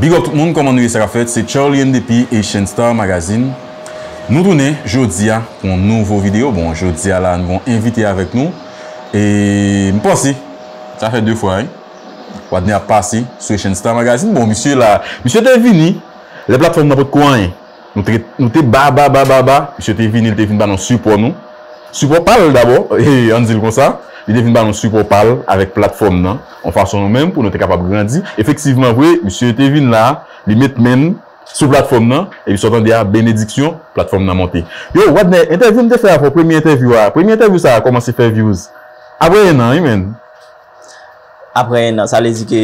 Big up tout moun kòman nou ye sa kap fèt se Charlien depi Haitian Star Magazine nou tounen jodia pou yon nouvo video bon jodia la nou gen yon envite avèk nou e m panse sa fè 2 fwa wi wadner ap pase sou Haitian Star Magazine bon misye la misye te vini lè platfòm nan potko anyen Nou te ba, ba, ba, ba, ba. Misye te vini, li te vin ba nou sipò nou. Sipò pa l dabò, an n di l konsa. Li te vin ba nou sipò pa l avèk platfòm nan, yon fason nou menm pou nou te kapab grandi. Efektivman vre, misye te vin la, li met men l sou platfòm nan, epi sa w tande a, benediksyon, platfòm nan monte. Yo, Wadner, entèvyou m te fè avè w, premye entèvyou a, premye entèvyou sa a kòmanse fè vyouz. Aprè ennan wi menn. Aprè ennan, sa vle di ke.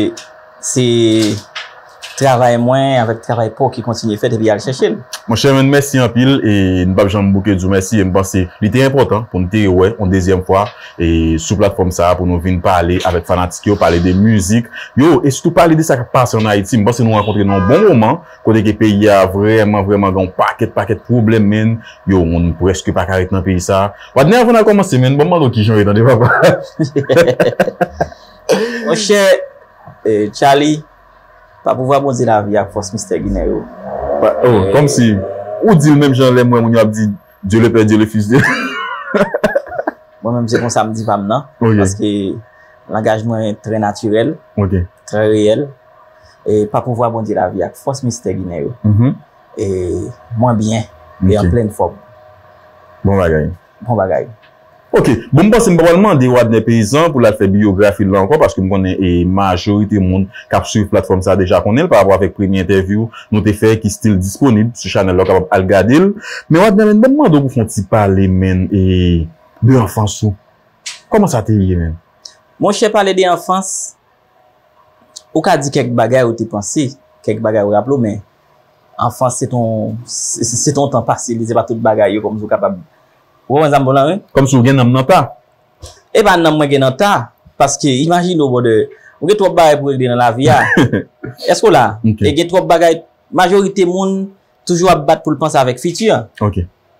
Se travay mwen avèk travay paw ki kontinye fèt epi al chèche l. Monchè men mèsi anpil e n pap janm bouke di w mèsi e m panse li te enpòtan pou n te wè on dezyèm fwa e sou platfòm sa pou nou vin pale avèk fanatik yo pale de mizik yo e sitou pale de sa k ap pase an Ayiti m panse nou rankontre nan on bon moman kote ke peyi a vrèman vrèman gen on pakèt pakèt pwoblèm menn yo moun prèske pa ka ret nan peyi sa Wadner avan n al kòmanse menn ban m mande w kijan w ye tande papa. Mon chè Tchaly, pa pouvwa Bondye lavi ak fòs mistè Ginen yo. Oh, kòmsi ou di l menm jan lè m wè moun yo ap di Dieu le père, Dieu le fils, Dieu. Mwen menm se konsa m di pa m nan. Ok. Paske langaj mwen trè natirèl. Ok. Trè reyèl. E pa pouvwa Bondye lavi ak fòs mistè Ginen yo. Mhmm. E mwen byen. Ok. E an plenn fòm. Bon bagay. Bon bagay. Ok, bon m panse m pa pral mande Wadner Paysan pou l al fè biyografi l lan ankò paske m konnen e majorite moun k ap swiv platfòm sa deja konnen l pa rapò avèk premye entèvyou nou te fè ki stil disponib sou chanèl la ou kapab al gade l men Wadner menn ban m mande w pou fè yon ti pale menn e de anfans ou kòman sa te ye menn? Monchè pale de anfans Ou ka di kèk bagay ou te panse, kèk bagay ou raple ou men anfans se ton se ton tan pase li se pa tout bagay yo kòmsi ou kapab ou konprann sa m bon la wi. Kòmsi ou gen nanm nan ta. E pa nanm mwen gen nan ta paske imajine w brother ou gen twòp bagay pou regle nan lavi a èske w la e gen twòp bagay majorite moun toujou ap bat pou l panse avèk fiti an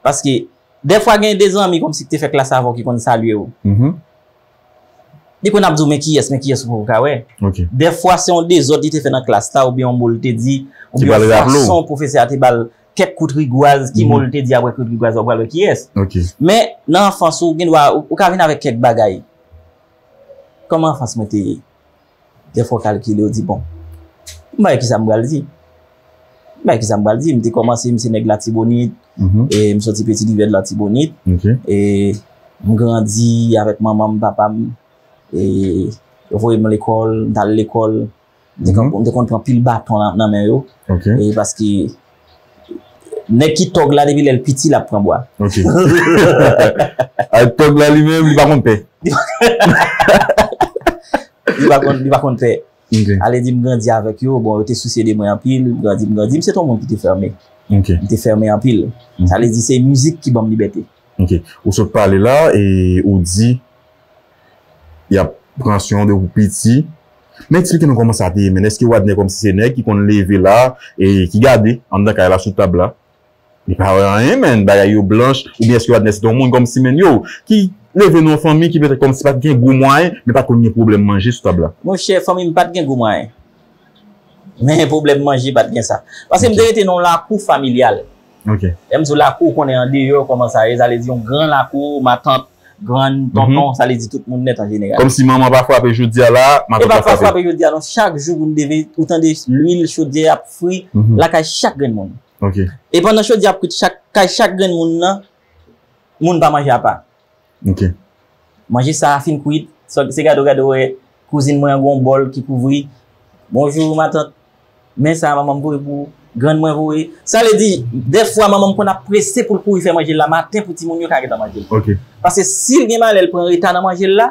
paske dèfwa gen de zanmi kòmsi ki te fè klas avè w ki konn salye w Li konn ap di w men kiyès, men kiyès ou poko ka wè. Dèfwa se yon dezòd li te fè nan klas la oubyen yon mo li te di, oubyen yon fason pwofesè a te ba l kèk kout rigwaz, ki mo li te di apre kout rigwaz la ou pral wè kiyès. Men, nan anfans ou, ou gen dwa, ou ka vin avèk kèk bagay. Kòman anfans mwen te ye? Dèfwa w kalkile, w di bon, m pa wè ki sa m pral di. M pa wè ki sa m pral di. M te kòmanse, m se nèg Latibonit, m soti Peti Rivye Latibonit. M grandi avèk manman m, papa m. Yo voye m lekòl, m t al lekòl. M te konn pran pil baton nan men yo. Paske. Nèg ki tòg la depi lèl piti lap pran bwa. Ok Tòg la li menm li pa konn pè. Li pa konn pè. Ale di m grandi avèk yo, bon yo te sousye de mwen anpil, m grandi, m grandi, m se t yon moun ki te fèmen. Ok. M te fèmen anpil. Sa vle di se mizik ki banm libète. Ok. Ou sot pale la e ou di. Y ap pran swen w depi w piti. Men eksplike nou kòman sa te ye menn. Èske Wadnè kòmsi se nèg ki konn leve la e ki gade anndan kay la sou tab la? Li pa wè anyen menn. Bagay yo blanch. Oubyen èske Wadnè se te yon moun kòmsi menn yo ki leve nan yon fanmi ki petèt kòmsi pa t gen gwo mwayen men pa t konn gen pwoblèm manje sou tab la? Monchè, fanmi m pa t gen gwo mwayen. Men pwoblèm manje pa t gen sa. Paske m te rete nan yon lakou familyal. Lè m di w lakou, ou konnen andeyò kòman sa ye, sa vle di yon gran lakou, matant, grann, tonton, sa vle di tout moun nèt an jeneral. Kòm si manman pa frape jodi a la a, matant pa frape. E pa pa frape jodi a non, chak jou pou n leve, ou tande lwil chodyè ap fri lakay chak grenn moun. E pandan chodyè ap fri kay chak grenn moun nan, moun pa manje apa. Ok. Manje sa a fin kwit, se gade w gade wè kouzin mwen an gen yon bòl ki kouvri, Bonjou matant, men sa a manman m voye pou ou, grann mwen voye. Sa vle di, dèfwa manman m konn ap prese pou l kouri fè manje l la maten pou timoun yo ka gentan manje l. Ok. Paske si l gen malè l pran reta nan manje l la,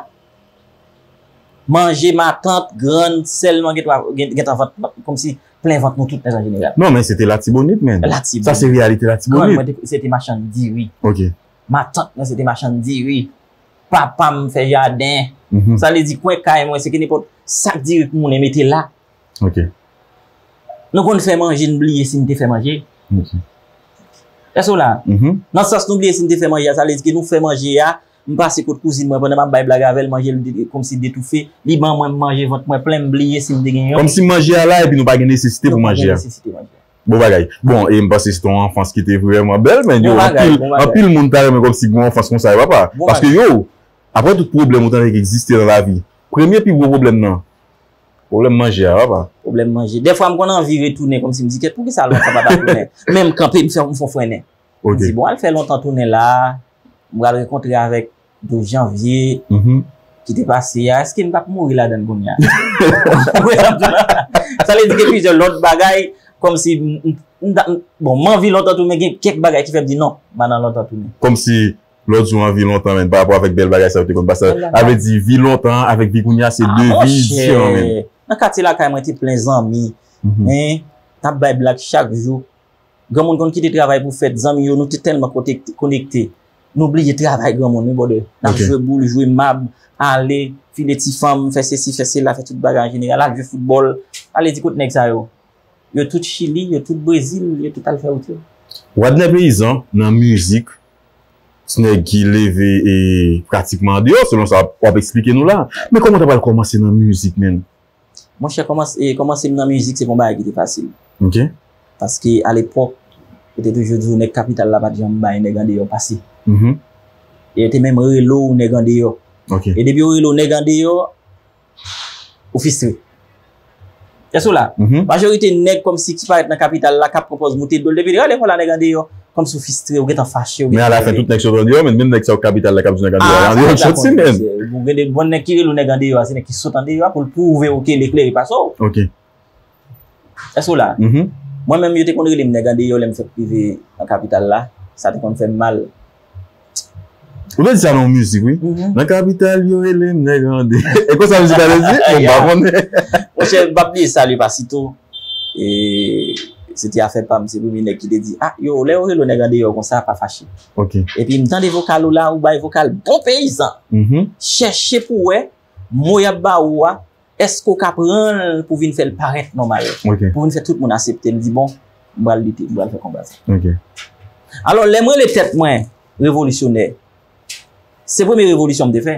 manje matant, grann, sè l nou an gen dwa gentan vant, kòmsi plen vant nou tout nèt an jeneral. Non men se te Latibonit men. Latibonit. Sa se reyalite Latibonit. Grann mwen te, se te machann diri. Ok. Matant mwen se te machann diri. Papa m fè jaden. Sa vle di kwen kay mwen se ke nenpòt sak diri k moulen mete la. Ok. Nou konn fè manje n bliye si n te fè manje. Ok. Èske w la? Mh. Nan sans nou bliye si n te fè manje a, sa vle di ke nou fè manje a, m pase kot kouzin mwen pandan m ap bay blag avè l, manje l vide kòmsi detoufe, li ban mwen m manje vant mwen plen m bliye si m te gen yon. Kòmsi manje a la epi nou pa gen nesesite pou manje a. Nou pa gen nesesite manje a. Bon bagay. Bon e m panse se te yon anfans ki te vrèman bèl men yo anpil anpil moun ta renmen kòmsi gen yon anfans konsa yo papa. Paske yo aprè tout pwoblèm ou tande ki egziste nan lavi premye pi gwo pwoblèm nan pwoblèm manje a papa. Pwoblèm manje. Dèfwa m konn anvi retounen kòmsi m di kèt poukisa lontan m pa ta tounen. Men m kanpe m fè m fon frennen. M di bon al fè lontan tounen la a m pral rekontre avèk 12 janvye ki te pase ya, eske nou tap mouri ladan l kounya? Sa vle di gen plizyè lòt bagay kòm si, bon m anvi lontan tou men gen kèk bagay ki fè m di non, m pa nan lontan tou. Kòm si lòt jou anvi lontan men pa rapò avèk bèl bagay sa yo te konn pase la. Sa vle di vi lontan an avèk vi kounya se 2 vi diferan menm. Nan katye lakay mwen te plen zanmi, men tap bay blag chak jou. Granmoun konn kite travay pou fèt zanmi yo nou te tèlman konekte nou bliye travay granmoun wi brother nap jwe boul jwe mab ale file ti fanm fè sesi fè sela fè tout bagay an jeneral al jwe foutbòl ale di kot nèg sa yo yo tout chili yo tout brezil yo tout al fè wout yo. Wadner Paysan nan mizik se nèg ki leve e pratikman andeyò selon sa wap eksplike nou la men kòman ta pral kòmanse nan mizik menn Monchè kòmanse kòmanse m nan mizik se pa yon bagay ki te fasil. Ok. Paske a lepòk yo te toujou di w nèg kapital la pa t janm bay nèg andeyò pase. E yo te menm rele w nèg andeyò. Ok. E depi yo rele w nèg andeyò, ou fistre. Èske w la? Majorite nèg kòmsi ki parèt nan kapital la k ap pran pòz moute do l depi l rele w lekòl la nèg andeyò. Kòmsi ou fistre, ou gentan fache, ou gentan nève. Men ala fen tout nèg sòt andeyò menn, menm nèg sa yo k kapital la k ap di nèg andeyò a, andeyò yo sòt si menn. Bon gen de bon nèg ki rele ou nèg andeyò a se nèg ki sòt andeyò a pou l pwouve ou ke Leclerc pase w. Ok. Èske w la? Mwen menm yo te konn rele m nèg andeyò lè m fèk rive nan kapital la, sa te konn fè m mal. Ou te di sa nan yon mizik wi. Nan kapital yo rele m nèg ande. E konsa mizik la te di? Bon m pa konnen. Mon chè, m pa p bliye Salut Pasito. E se te afè pa m, se premye nèg ki te di, ah yo, lè yo rele w nèg andeyò konsa, pa fache. Ok. Epi m tande vokal ou la, ou bay vokal bon peyizan. Chèche pou w wè mo y ap ba ou a, Èske ou ka pran l pou vin fè l parèt nòmal? Pou vin fè tout moun asepte l, di bon, m pral lite, m pral fè konba sa. Alò, lè m rele tèt mwen revolisyonè, se premye revolisyon m te fè.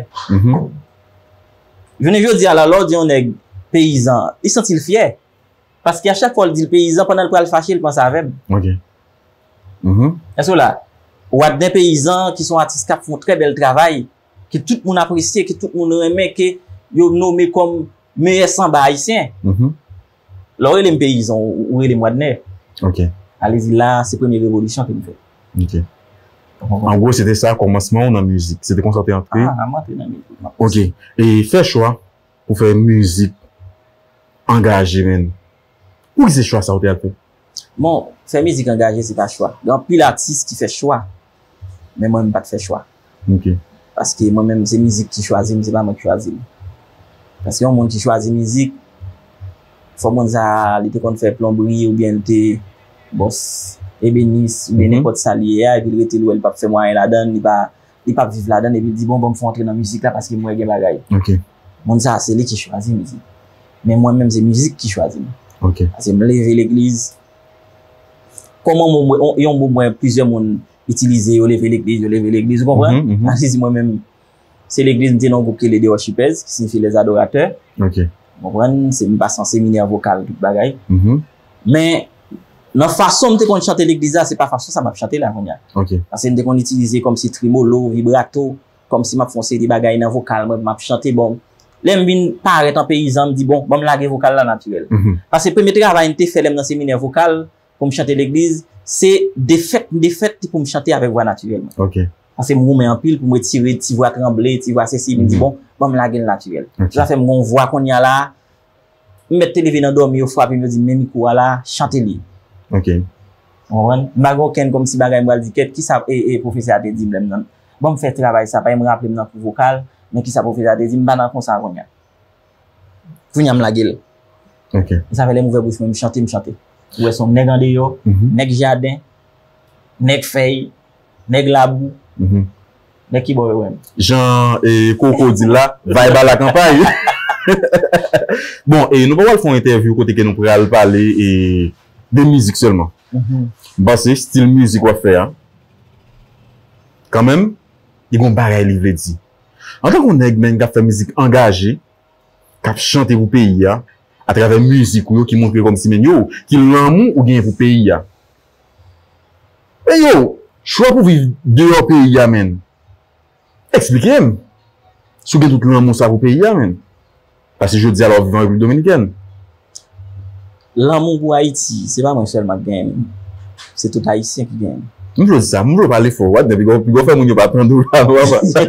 Jounen jodi a la, lè w di yon nèg peyizan, li santi l fyè. Paske a chak fwa w di l peyizan, pandan l pral fache, li panse avè m. Èske w la? Wadner Peyizan ki se yon atis k ap fè yon trè bèl travay, ke tout moun apresye, ke tout moun renmen, ke yo nome kòm meyè sanba ayisyen. Lè ou rele m peyizan, ou rele m Wadner. Ok. Alezi la, se premye revolisyon ke m fè. Ok. An gwo, se te sa kòmansman ou nan mizik. Se te konsa ou te antre. A, m antre nan mizik. Ok. E fè chwa pou fè mizik angaje menm. Pouki se chwa sa ou te al fè? Bon, fè mizik angaje se pa chwa. Gen anpil atis ki fè chwa, men mwen m pat fè chwa. Ok. Paske mwen menm se mizik ki chwazi m, se pa mwen ki chwazi m. Paske yon moun ki chwazi mizik, fò moun sa a li te konn fè plonbri oubyen li te bon ebenis oubyen nenpòt sa li ye a epi l rete l wè li pap fè mwayen ladan, li pa li pap viv ladan epi l di bon banm fè w antre nan mizik la paske m wè gen bagay. Ok. Moun sa se li ki chwazi mizik. Men mwen menm se mizik ki chwazi m. Ok. Pase m leve legliz. Kon mo mwen, yon mo mwen plizyè moun itilize yo leve legliz, yo leve legliz, ou konprann? Mh, mh. Alezi mwen menm, se legliz m te nan yon gwoup ki rele The Worshipers, ki siyifi Les Adorateurs. Ok. Ou konprann? Se m pase yon seminè vokal tout bagay. Mh. Men, nan fason m te konn chante legliz la, se pa fason sa m ap chante la kounya. Ok. Pase m te konn itilize kòmsi tremolo, vibrato, kòmsi m ap fè yon seri de bagay nan vokal mwen pou m ap chante bon. Lè m vin parèt an peyizan m di bon, ban m lage vokal la natirèl. Paske premye travay m te fè lè m nan seminè vokal pou m chante legliz se defèt m defèt pou m chante avèk vwa natirèl mwen. Paske m goumen anpil pou m retire ti vwa tranble, ti vwa sesi m di bon, ban m lage l natirèl. Se sa fè m gen yon vwa kounye a la M mèt te leve nan dòmi yo frape m yo di m men mikwo a la chante li. Ok. Ou konprann? M pa gen okenn kòmsi bagay m pral di kèt kisa pwofesè a te di m lè m nan Ban m fè travay sa pagen m raple m nan kou vokal men kisa pwofesè a te di m m pa nan konsa kounye a. Kounye a m lage l. Ok. E sa fè lè m ouvè bouch mwen m chante m chante. Ou wè s on nèg andeyò, nèg jaden, nèg fèy. Nèg labou. Nèg ki bò yo menm? Jan Coco di l la, Vibe ala kanpay. Bon, nou pa pral fè yon entèvyou kote ke nou pral pale de mizik sèlman. M panse stil mizik w ap fè a, kanmenm, li gen yon bagay li vle di. Antanke yon nèg menn k ap fè mizik angaje, k ap chante pou peyi a, atravè mizik ou yo ki montre kòmsi menn yo, ki lanmou ou genyen pou peyi a. Hey yo, chwa pou viv deyò peyi a menn. Eksplike m si w gen tout lanmou sa pou peyi a menn. Pase jodi a la w ap viv an Repiblik Dominikèn. Lanmou pou Ayiti, se pa mwen sèlman ki genyen li. Se tout Ayisyen ki genyen li. M jwe sa, m jwe w pale fò. Wap gen pi gwo fè moun yo pa tande w la vwa pa sa.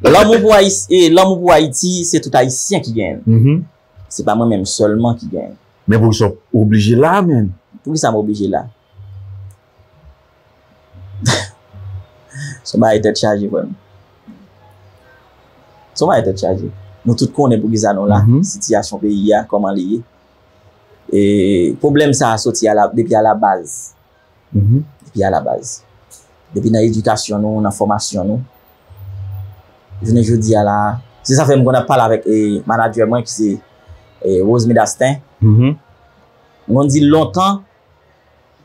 Lanmou pou Ayiti, se tout Ayisyen ki genyen li. Se pa mwen menm sèlman ki gen. Men poukisa w oblije la a menn? Poukisa m oblije la? Son bagay tèt chaje frè m. Son bagay tèt chaje. Nou tout konnen poukisa nou la. Sitiyasyon peyi a, kòman li ye. E pwoblèm sa a soti depi alabaz. Depi alabaz. Depi nan edikasyon nou, nan fòmasyon nou. Jounen jodi a la a. Se sa fè m konn ap pale avèk manadjè mwen ki se Rosmy Dastin. M konn di l lontan,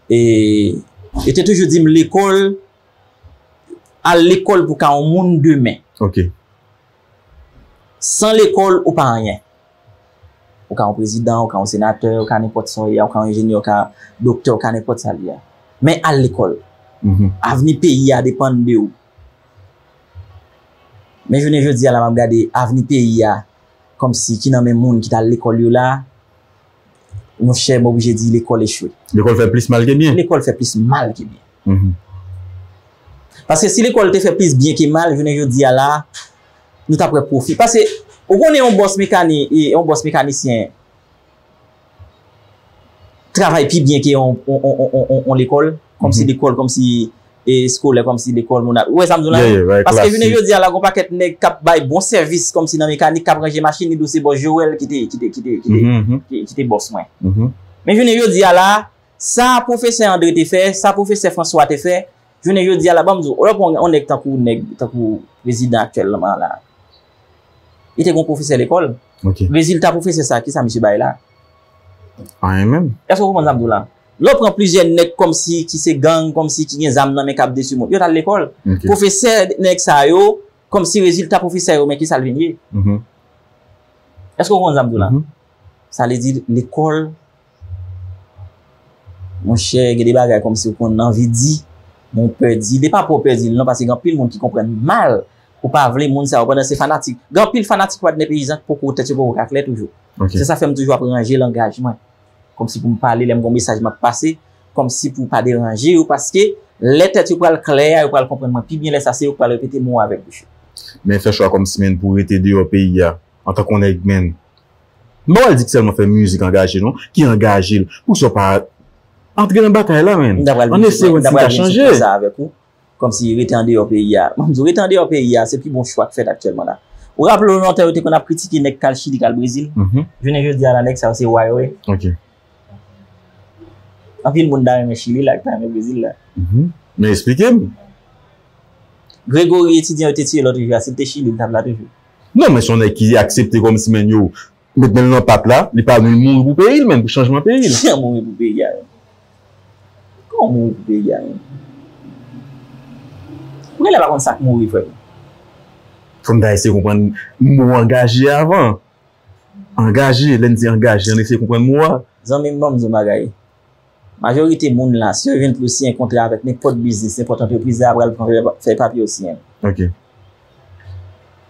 yo te toujou di m lekòl, al lekòl pou w ka yon moun demen. San lekòl ou pa anyen. Ou ka yon prezidan, ou ka yon senatè, ou ka nenpòt sa w ye a, ou ka yon enjenyè, ou ka doktè, ou ka nenpòt sa l ye a. Men al lekòl. Avni peyi a depann de ou. Men jounen jodi a la m ap gade avni peyi a kòmsi ki nan men moun ki t al lekòl yo la. Mon chè, m oblije di lekòl echwe. Lekòl fè plis mal ke byen. Lekòl fè plis mal ke byen. Paske si lekòl te fè plis byen ke mal, jounen jodi a la, nou tap wè pwofi. Paske, ou konnen yon bòs mekani, yon bòs mekanisyen, travay pi byen ke yon, yon, yon, yon lekòl, kòmsi lekòl, kòmsi eskolè kòmsi lekòl moun ap. Ou wè sa m di w la? Yè, yè, bay klasi. Paske jounen jodi a la, gen yon pakèt nèg k ap bay bon sèvis kòmsi nan mekanik, k ap ranje machin, li di w se bòs Joel ki te, ki te, ki te, ki te, ki te bòs mwen. Men jounen jodi a la, sa pwofesè André te fè, sa pwofesè François te fè, jounen jodi a la, ban m di w, ou lè pran yon nèg tankou nèg, tankou prezidan aktyèlman an la, li te gen yon pwofesè lekòl. Ok. Rezilta pwofesè sa, ki sa misye bay la? Anyen menm. Èske w konprann sa m di w la? Yo pran plizyè nèg kòmsi ki se gang, kòmsi ki gen zam nan men k ap detwi moun. Yo t al lekòl. Pwofesè nèg sa yo, kòmsi rezilta pwofesè yo men ki sa l vin ye. Èske w konprann sa m di w la? Sa vle di lekòl, monchè gen de bagay kòmsi w konn anvi di, men w pè di. Li pa pou w pè di l non paske gen anpil moun ki konprann mal ou pa vle moun sa yo pandan se fanatik. Gen anpil fanatik Wadner Peyizan ki poko tèt yo poko ka klè toujou. Se sa fè m toujou ap ranje langaj mwen. Kòmsi pou m pale lè m gon mesaj m ap pase, kòmsi pou pa deranje yo paske lè tèt yo pral klè a yo pral konprann mwen pi byen lè sa se yo k pral repete mo a avèk bouch yo. Men fè chwa kòmsi menn pou rete deyò peyi a antan k on nèg menn. M pa pral di k sèlman fè mizik angaje non, ki angaje l, poukisa w pa antre nan batay la menn, an eseye wè si n ka chanje. Kòmsi rete andeyò peyi a. Mwen di w, rete andeyò peyi a, se pi bon chwa k fèt aktyèlman la. Ou raple w lontan yo te konn ap kritike nèg k al Chili, k al Brezil? Jounen jodi a la nèg sa yo se wa yo ye. Anpil moun ta renmen Chili la, ki ta renmen Brezil la. Men esplike m. Gregory etidyan yo te tiye lòt jou a, si l te Chili, li t ap la toujou? Non, men se yon nèg ki aksepte kòmsi menn yo. Met menl nan pat la, li pa vle mouri pou peyil menm, pou chanjman peyil. Ki jan mouri pou peyi a menm? Kòman mouri pou peyi a menm? Mwen genlè pa konn sak mouri vre menm. Fòk ta eseye konprann mo angaje a avan. Angaje, lèn di angaje an eseye konprann mo a. Zanmim banm di yon bagay. Majorite moun la, si yo jwenn pou yo siyen kontra avèk nenpòt biznis, nenpòt antrepriz, yo apral pran fèy papye yo siyen.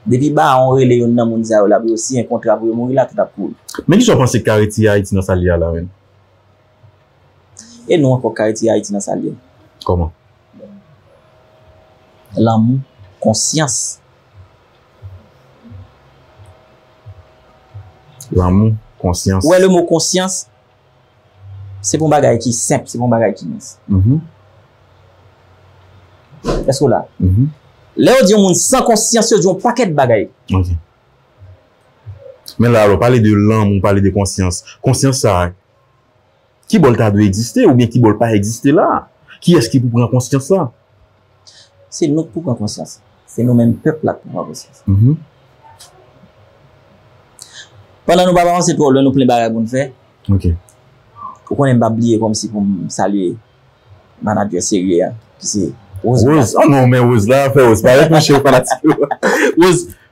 Depi bawon rele youn nan moun sa yo la pou yo siyen kontra pou yo mouri la, tout ap kouri. Men kisa w panse ki ka retire Ayiti nan sa l ye a la menm? E nou ankò ki ka retire Ayiti nan sa l ye? Kòman? Lanmou, konsyans. Lanmou, konsyans. Ou wè le mo konsyans? Se pou yon bagay ki senp, se pou yon bagay ki mins. Èske ou la? Lè yo di yon moun san konsyans, yo di yon pakèt bagay. Ok. Men la, ou pale de lanmou, ou pale de konsyans. Konsyans sa, ki bò l ta dwe egziste, oubyen ki bò l pa egziste la? Kiyès ki pou pran konsyans sa? Se nou k pou pran konsyans. Se nou menm pèp la k pou pran konsyans. Pandan nou pa p avanse twò lwen, nou plen bagay pou n fè. Ou konnen m pa bliye kòmsi pou m salye manadjè serye a ki se Rose Blason. Rose? An non, men Rose la, fè Rose parèt mouche fanatik yo. Rose,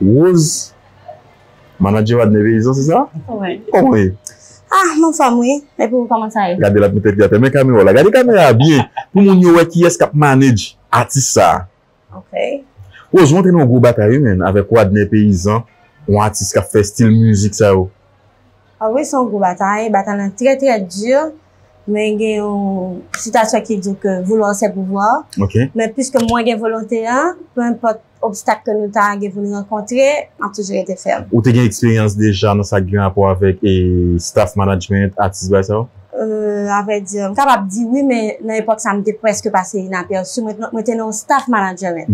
Rose manager Wadner Verizon se sa? Wi. Kòman ou ye? Ah m anfòm wi. Epi ou kòman sa ye? Gade l ap met tèt li atè. Men kamera w la. Gade kamera a byen pou moun yo wè kiyès k ap manage atis sa a. Ok. Rose ou antre nan yon gwo batay wi menn avèk Wadner Peyizan yon atis k ap fè stil mizik sa yo. Anmweyy son gwo batay, batay lan trè trè dur men gen yon citation ki di ke vouloir c'est pouvoir men puisque mwen gen volonte an peu importe obstacle ke nou ta gen pou nou rankontre map toujou rete fèm. Ou te gen eksperyans deja nan sa ki gen rapò avèk staff management, atis bagay sa yo? A vrai dire m kapab di wi men nan epòk sa m te preske pase inaperçu mwen te nan yon staff management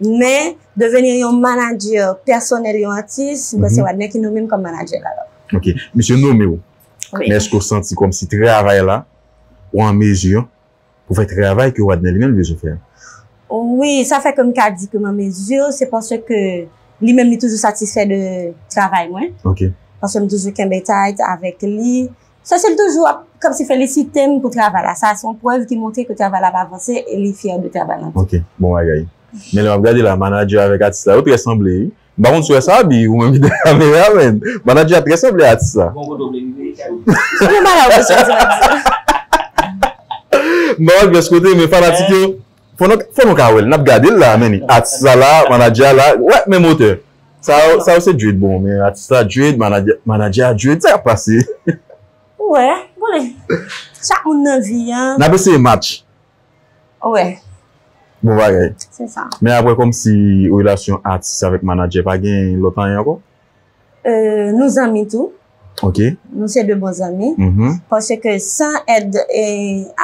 men Devenir yon manager pèsonèl yon atis, mwen se Wadner ki nome m kòm manager l alò. Ok. Misye nome w, men èske w santi kòmsi travay la, ou an mezi pou fè travay ke Wadner li menm li bezwen fè a? Wi, sa fè ke m ka di ke m an mezi, se paske li menm li toujou satisfè de travay mwen. Ok. Paske m toujou kenbe tait avèk li, Cecile toujou ap kòmsi felisite m pou travay la sa se yon prèv ki montre ke travay la ap avanse e li fyè de travay lan tou. Ok bon bagay. Men lè map gade la manager avèk atis la yo trè sanble wi. M pa konn si w wè sa Aby ou menm ki dèyè kamera men manager a trè sanble atis la. Bon kote w vle rive Aby. Bon bagay ou mesye m di w atis la. M pa wè pyès kote men fanatik yo. Fò nou ka wèl nap gadel la men ni atis la la manager a la wè menm otè sa yo sa yo se Jude bon men atis la Jude manager a Jude sa kap pase. Ou wè konnen chak moun nan vi an. Nap eseye match. Ou wè. Bon bagay. Se sa. Men aprè kòmsi relasyon atis avèk manager pa gen lòt anyen ankò. Nou zanmi tou. Ok. Nou se 2 bon zanmi. Pase ke san èd e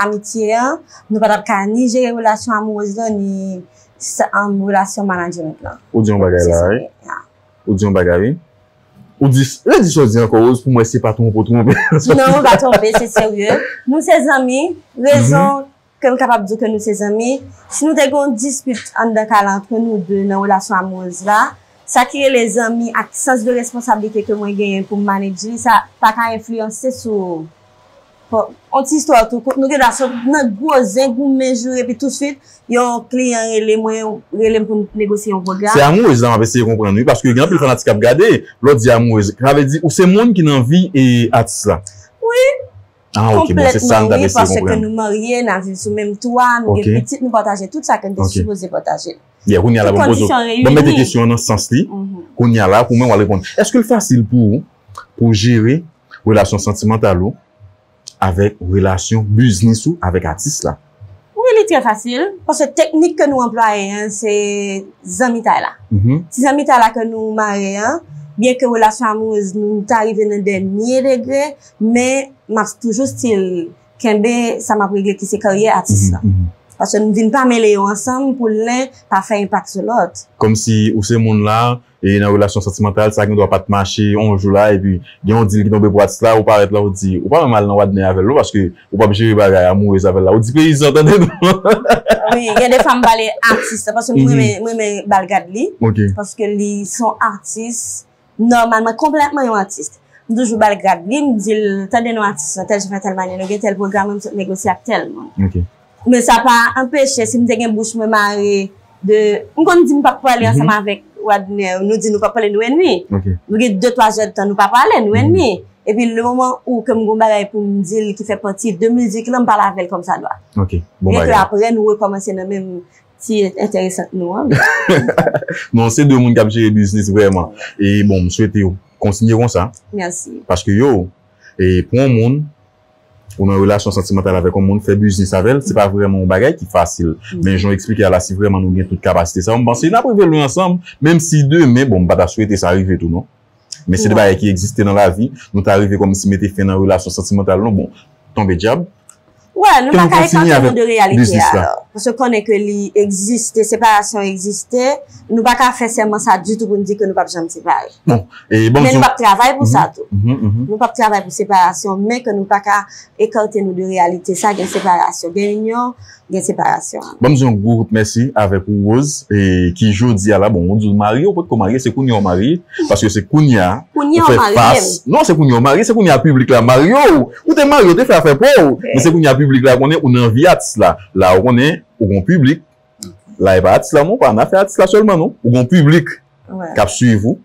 amitye a, nou pa tap ka ni jere relasyon amourèz lan, ni relasyon management lan. Ou di yon bagay la wi. Ou di yon bagay wi. Ou di, redi sa ou di ankò Rose pou mwen si se pa twonpe ou twonpe. Non mwen pa twonpe, se serye. Nou se zanmi, rezon Ke m kapab di w ke nou se zanmi. Si nou te gen yon dispit anndan kay la antre nou de nan relasyon amoureuse la, sa ki rele zanmi ak sans de responsablite ke mwen genyen pou m manage li sa pa ka enfliyanse sou Bon, yon ti istwa tou kout, nou gen dwa sot nan gwo zen, goumen, joure epi touswit yon kliyan rele mwen, rele m pou n negosye yon pwogram. Se amoureuse la m ap eseye konprann wi paske gen anpil fanatik k ap gade, lè w di amoureuse, sa vle di ou se moun ki nan vi atis la? Wi. Ah ok, bon se sa m t ap eseye konprann. Konplètman wi, paske nou marye, n ap viv sou menm twa, nou gen pitit, nou pataje tout sa ke n te sipoze pataje. Byen, kounye a la banm poze w, banm mete kesyon an nan sans li, kounye a la pou mwen w al reponn. Èske l fasil pou ou pou w jere relasyon santimantal ou avèk relasyon biznis ou avèk atis la? Wi li trè fasil, paske teknik ke nou anplwaye an se zanmitay la. Ti zanmitay la ke nou mare an, byen ke relasyon amourez nou ta rive nan dènye degre, men m ap toujou stil kenbe sa m ap regle ki se karyè atis la. Paske nou vin pa mele yo ansanm pou len pa fè enpak sou lòt. Kòmsi ou se moun la, E nan relasyon santimantal, sa gen dwa pat mache yon jou la epi gen yon dil ki tonbe pou atis la, ou parèt la ou di, ou pa menm al nan wadne avèl non paske ou pap jere bagay amourez avèl la, ou di peyizan tande non. Wi, gen de fwa m pale atis la paske m renmen m renmen bal gad li, paske li son atis nòmalman konplètman yon atis. M toujou bal gad li, m di l tande non atis lan tèl jan fè tèl manye nou gen tèl pwogram nou sot negosye ak tèl moun. Men sa pa anpeche si m te gen bouch mwen mare de m konn di m pap pale ansanm avèk Wadner nou di nou pap pale nou enmi nou gen de twa zèdtan nou pa pale nou enmi epi le moman ou ke m gen yon bagay pou m di l ki fè pati de mizik lan m pale avè l kòmsadwa byen ke aprè nou rekòmanse nan menm ti entèresant nou an non se de moun k ap jere biznis vrèman e bon m swete yo kontinye konsa paske yo e pou yon moun. Ou nan relasyon santimantal avèk yon moun, fè biznis avè l, se pa vrèman yon bagay ki fasil. Men jan w eksplike a la, si vrèman nou gen tout kapasite sa yo, m panse n ap rive lwen ansanm. Menm si demen, bon m pa ta swete sa rive tou non. Men se de bagay ki egziste nan lavi. Nou ta rive kòmsi mete fen nan relasyon santimantal nou, bon, tonbe dyab. Wè, nou pa ka ekante nou de reyalite a. Paske konnen ke li egziste, separasyon egziste. nou pa ka fè sèman sa ditou pou n di ke nou pap janm separe. Bon, e banm di. Men nou pap travay pou sa tou. Nou pap travay pou separasyon, men ke nou pa ka ekante nou de reyalite sa gen separasyon. Gen inyon, gen separasyon. Banm di yon gwo kout mèsi avèk ou Rose, e ki jodi a la, bon ou di ou marye, ou pot ko marye, se kounye ou marye, paske se kounye a, ou fè fas. Kounye ou marye m. Non, se kounye ou marye, se kounye a piblik la marye ou. Ou te marye, ou te fè afè pa w, men se kounye a piblik la konnen ou nan vi atis la. La ou konnen, ou gon piblik, la e pa atis la non, pa nan afè atis la sèlman non, ou gen yon piblik kap swiv ou,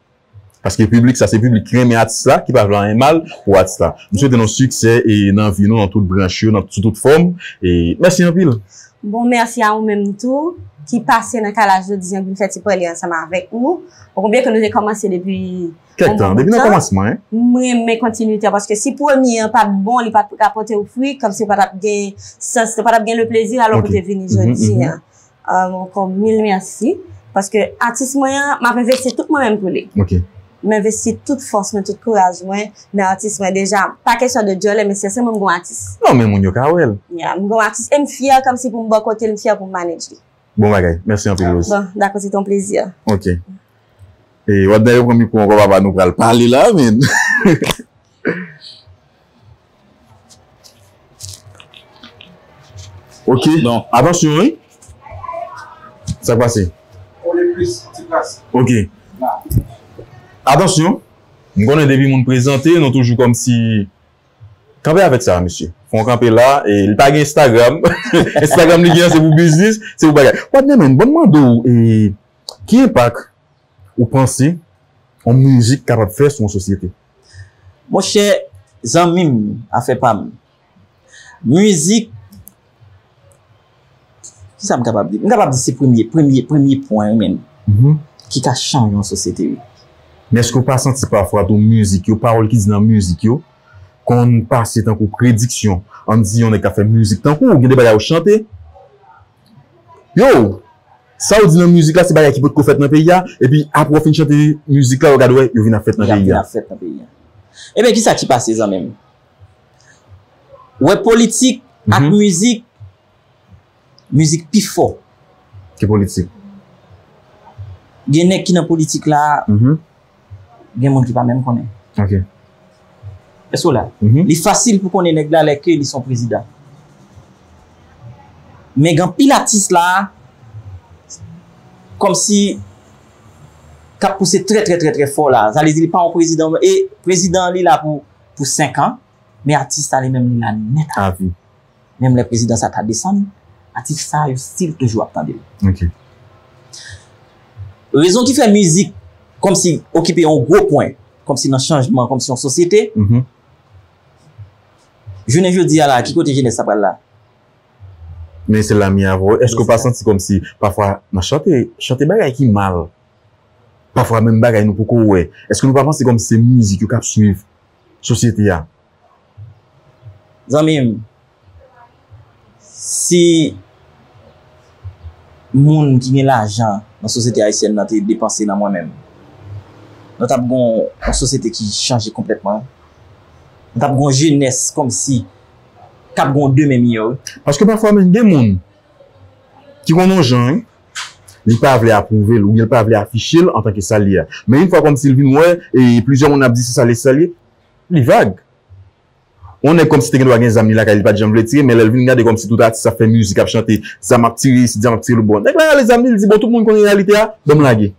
paske piblik sa se piblik ki renmen atis la, ki pa vle anyen mal pou atis la. M swete nou siksè e nan vi nou nan tout branch yo, nan sou tout fòm e mèsi anpil. Bon mèsi a ou menm tou ki pase nan kay la jodi an pou fè ti pale ansanm avèk nou. Ou konprann ke nou te kòmanse depi Kèk tan, depi nan kòmansman. M renmen kontinite a paske si premye an pat bon, li pat rapote ou fwi, kòmsi ou pa tap gen sans, ou pa tap gen le plezi alò pou te vini jodi an. Ankò mil mèsi paske atis mwen an, m ap envesti tout mwen menm pou li. M envesti tout fòs mwen, tout kouraj mwen nan atis mwen. Deja, pa kesyon de dyòlè men sèsen mwen m gon atis. Non men moun yo ka wè l. Ya, m gon atis e m fyè kòmsi pou m bò kote l, m fyè pou m manedj li. Bon bagay. Mèsi anpil Rose. Bon, dakò se te yon plezi. Ok. E wap dèyè pran mikwo ankò papa nou pral pale la men. Ok. Bon, atansyon wi. Sak pase? Kole plis, ti kras. Ok. Atansyon. M konnen depi moun prezante nou toujou kòmsi. Kanpe avèk sa mesye. Fon kanpe la e li pa gen Instagram. Instagram li gen an se pou biznis, se pou bagay. Patnè men banm mande w e ki enpak ou panse yon mizik kapab fè sou yon sosyete? Monchè zanmi m, afè pa m. Mizik Ki sa m kapab di? M kapab di se premye, premye, premye pwen menm ki ka chanje yon sosyete wi. Men èske ou pa santi pafwa tou mizik yo, pawòl ki di nan mizik yo konn pase tankou prediksyon? An n di yon nèg k ap fè mizik tankou ou gen de bagay ou chante, yow! Sa ou di nan mizik la se bagay ki potko fèt nan peyi a epi apre ou fin chante mizik la yo gad wè yo vin ap fèt nan peyi a. Yo vin ap fèt nan peyi a. Eben ki sa ki pase zanmi m? Wè politik ak mizik, mizik pi fò. Ke politik. Gen nèg ki nan politik la, gen moun ki pa menm konnen. Ok. Èske w la? Li fasil pou konnen nèg la lè ke li son prezidan. Men gen anpil atis la, kòm si, kap pouse trè trè trè trè fò la. Sa vle di li pa yon prezidan, e prezidan li la pou. pou 5 an, men atis sa li menm li la nèt a vi. Menm lè prezidan sa ta desann, atis sa yo stil toujou ap tande l. Rezon ki fè mizik kòmsi okipe yon gwo pwen, kòmsi nan chanjman, kòmsi yon sosyete, jounen jodi a la, ki kote jenès sa pral la? Men se la mi avè w. Èske w pa santi kòmsi pafwa nan chante, chante bagay ki mal? Pafwa menm bagay nou poko wè. Eske nou pa panse kòm se mizik yo kap swiv sosyete a. Zanmim si moun ki gen lajan nan sosyete ayisyèn nan te depanse nan mwen menm nou tap gon yon sosyete ki chanje konplètman nou tap gon jenès kòmsi kap gon demen miyò wi. Paske pafwa menm gen moun ki konn yon jan wi. li pa vle apwouve l oubyen li pa vle afiche l antanke sa l ye a. Men yon fwa kòmsi l vin wè e plizyè moun ap di se sa l ye se sa l ye, li vag. Yon nèg kòmsi te gen dwa gen zam li lakay li pa t janm vle tire men lè l vin gade kòmsi tout atis ap fè mizik ap chante zam ap tire isit zam ap tire lòt bò nèg la rale zam li li di bon tout moun konnen reyalite a ban m lage.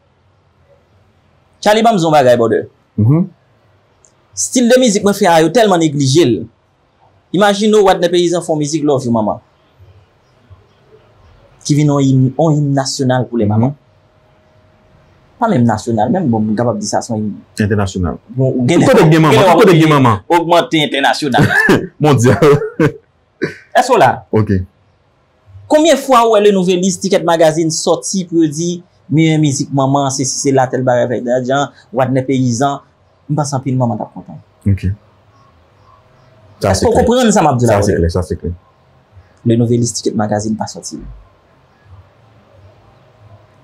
Tchaly ban m di yon bagay bòdè. Stil de mizik mwen fè a yo tèlman neglije l Imajine w Wadnè Peyizan fon mizik Love you Mama ki vin yon im yon im nasyonal pou lè mama. Pa menm nasyonal menm bon m kapab di sa son im. Entènasyonal. Tout kote k gen mama, tout kote k gen mama. Ogmante entènasyonal. Mondyal. Èske w la? Ok. Konbyen fwa ou wè le nouvelis ticket magazine sòti pou yo di meyè mizik manman se si se la tèl bagay vèy dadjan wadnè peyizan m panse anpil manman tap kontan ok sa se klè sa se klè sa se klè le nouvelis ticket magazine pa sòti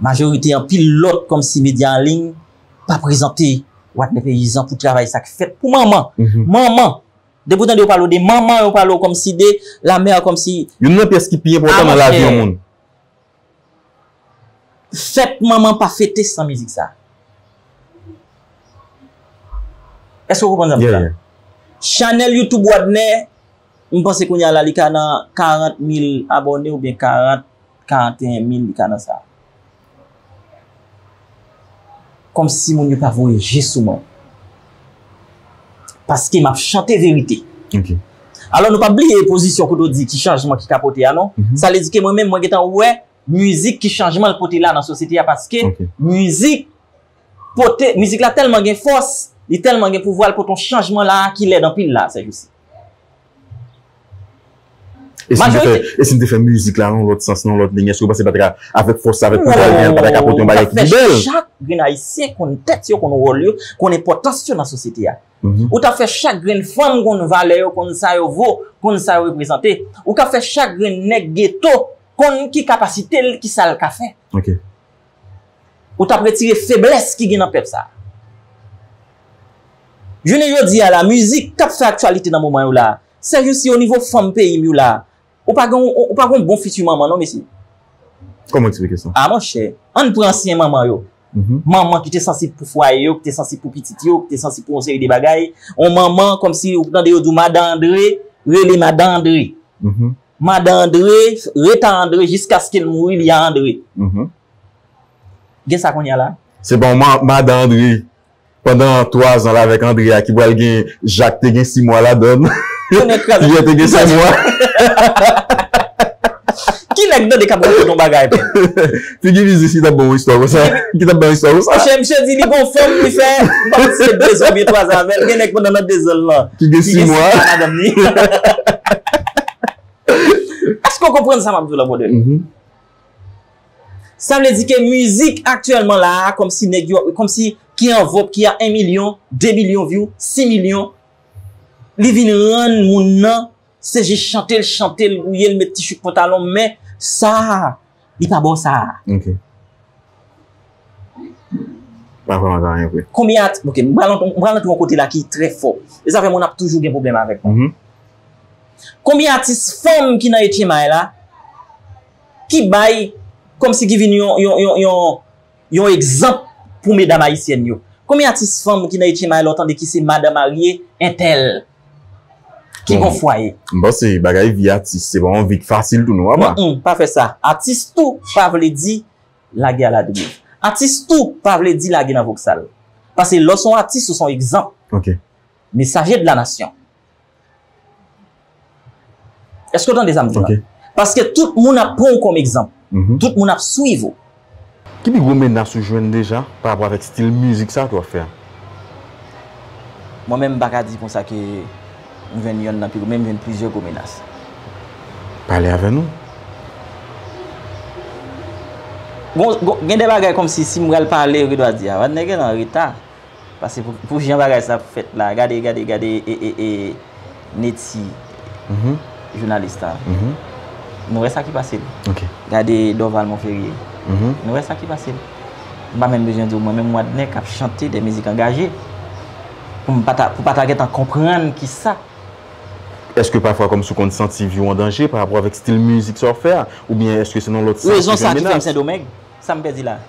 majorite anpil lòt kòmsi medya an liy pa prezante wadnè peyizan pou travay sak fèt pou manman manman Depi ou tande yo pale w de manman, yo pale w kòmsi de la mère kòmsi. Youn nan pyès ki pi enpòtan nan lavi yon moun. Fèt manman pa fete san mizik sa. Èske ou konprann sa m di la? Chanèl YouTube Wadner, m panse kounya la li ka nan 40 mil abòne oubyen 40. 41 mil li ka nan sa. Komsi moun yo pa voye je sou mwen. Paske map chante verite. Alò nou pa bliye pozisyon kote ou di ki chanjman ki ka pote a non. Sa vle di ke mwen menm mwen gentan wè mizik ki chanjman l pote la nan sosyete a paske mizik pote, mizik la tèlman gen fòs, li tèlman gen pouvwa l pote yon chanjman la ki lèd anpil la sèjousi. E si m te fè mizik la nan lòt sans, nan lòt liy, èske ou panse pati ka avèk fòs sa, avèk pouvwa li genyen, li pata ka pote yon bagay ki pi bèl? Ou ta fè chak grenn Ayisyen konn tèt yo, konn wòl yo, konn enpòtans yo nan sosyete a. Ou ta fè chak grenn fanm konn valè yo, konn sa yo vo, konn sa yo reprezante. Ou ka fè chak grenn nèg geto konn ki kapasite l, ki sa l ka fè. Ou tap retire feblès ki gen nan pèp sa. Jounen jodi a la mizik kap fè aktyalite nan moman yo la, sè jou si o nivo fanm peyi m yo la, ou pa gen yon, ou pa gen yon bon fiti manman non mesye. Kòman w eksplike sa? A monchè, ann pran ansyen manman yo. Manman ki te sansib pou fwaye yo, ki te sansib pou pitit yo, ki te sansib pou yon seri de bagay. Yon manman kòmsi ou tande yo di w madan Andre, rele madan Andre. Madan Andre ret a Andre jiskaske l mouri li a Andre. Gen sa kounye a la? Se pa yon madan Andre pandan 3 zan l avèk Andre a ki pral gen Jak te gen 6 mwa ladan l. Piyè te gen 5 mwa. Ki nèg tande k ap rakonte yon bagay menm? Figi Vizi si tap ban w istwa konsa, ki tap ban istwa konsa. Chè misye di li gon fanm li fè, m pa konn si se 2 zan oubyen 3 zan avè l, gen nèg pandan nan 2 zan l lan ki gen 6 mwa ak madanm li. Èske w konprann sa m ap di w la brother? Sa vle di ke mizik aktyèlman la a kòm si nèg yo, kòm si ki an vòg, ki a 1 milyon, 2 milyon vyou, 6 milyon, li vin rann moun nan Se jis chante l chante l gouye l met ti chouk pantalon men sa li pa ba w sa. Ok. Pa fè ank anyen vre. Konbyen at ok m pral m pral antre yon kote la ki trè fò. E sa fè moun ap toujou gen pwoblèm avèk mwen. Konbyen atis fanm ki nan etchemay la ki bay kòmsi ki vin yon yon yon yon Yon egzanp pou medam ayisyèn yo. Konbyen atis fanm ki nan etchenma a lè w tande ki se madan marye entèl ki gon fwaye. M panse bagay vi atis se pa yon vi k fasil tou non apa. Humm pa fè sa. Atis tou pa vle di lage a ladriv. Atis tou pa vle di lage nan voksal. Pase lè w s on atis ou s on egzanp. Ok. Mesaje de la nasyon. Eske w tande sa m di la? Paske tout moun ap pran w kòm egzanp. Tout moun ap swiv ou. Ki pi gwo menas ou jwenn deja pa rapò avèk stil mizik sa a ke w ap fè a? Mwen menm m pa ka di konsa ke m jwenn yonn nan pi gwo, men m jwenn plizyè gwo menas. Pale avè nou. Bon, gen de bagay kòmsi si m pral pale yo gendwa di, a, Wadner genlè an reta. Pase pou jan bagay sa ap fèt la gade gade gade ee Netty jounalis la nou wè sa ki pase gade Dorval Monferrier nou wè sa ki pase m pa menm bezwen di w mwen menm Wadner k ap chante de mizik angaje pou m pata pou pata gentan konprann ki sa. Eske pafwa kòmsi w konn santi vi w an danje parapò avèk stil mizik sa w ap fè a oubyen eske se nan lòt sans ki gen menas. Rezon sa ki fè m Sendomeng. Sam pèdi la?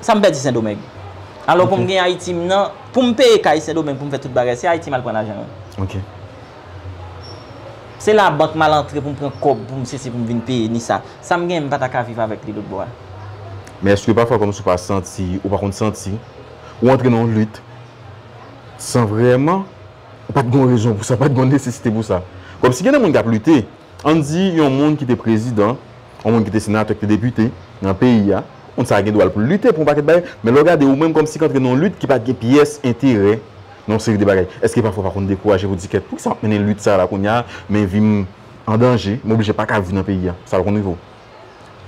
Sam pèdi sendomeng? Alò poum gen ayiti m nan, poum peye kay sendomeng poum fè tout bagay se ayiti mal pran lajan yo. Ok. Se la bank mal antre poum pran kòb poum sesi poum vin peye ni sa. Sam gen m pata ka viv avèk li lotbò a. Men eske pafwa kòmsi ou pa santi, ou pa konn santi, ou antre nan yon lit san vrèman ou pat gen yon rezon pou sa, pat gen yon nesesite pou sa. Kòmsi gen de moun kap lite. An n di yon moun ki te prezidan, yon moun ki te senatè, ki te depite nan peyi a, moun sa a gen dwa l pou l lite pou yon pakèt bagay, men lè w gade ou menm kòm si k antre nan yon lit ki pa t gen pyès enterè nan yon seri de bagay, èske pafwa w pa konn dekouraje pou w di kèt poukisa m ap mennen lit sa a la kounye a men vi m an danje, m oblije pa ka viv nan peyi a, sa pa konn rive w?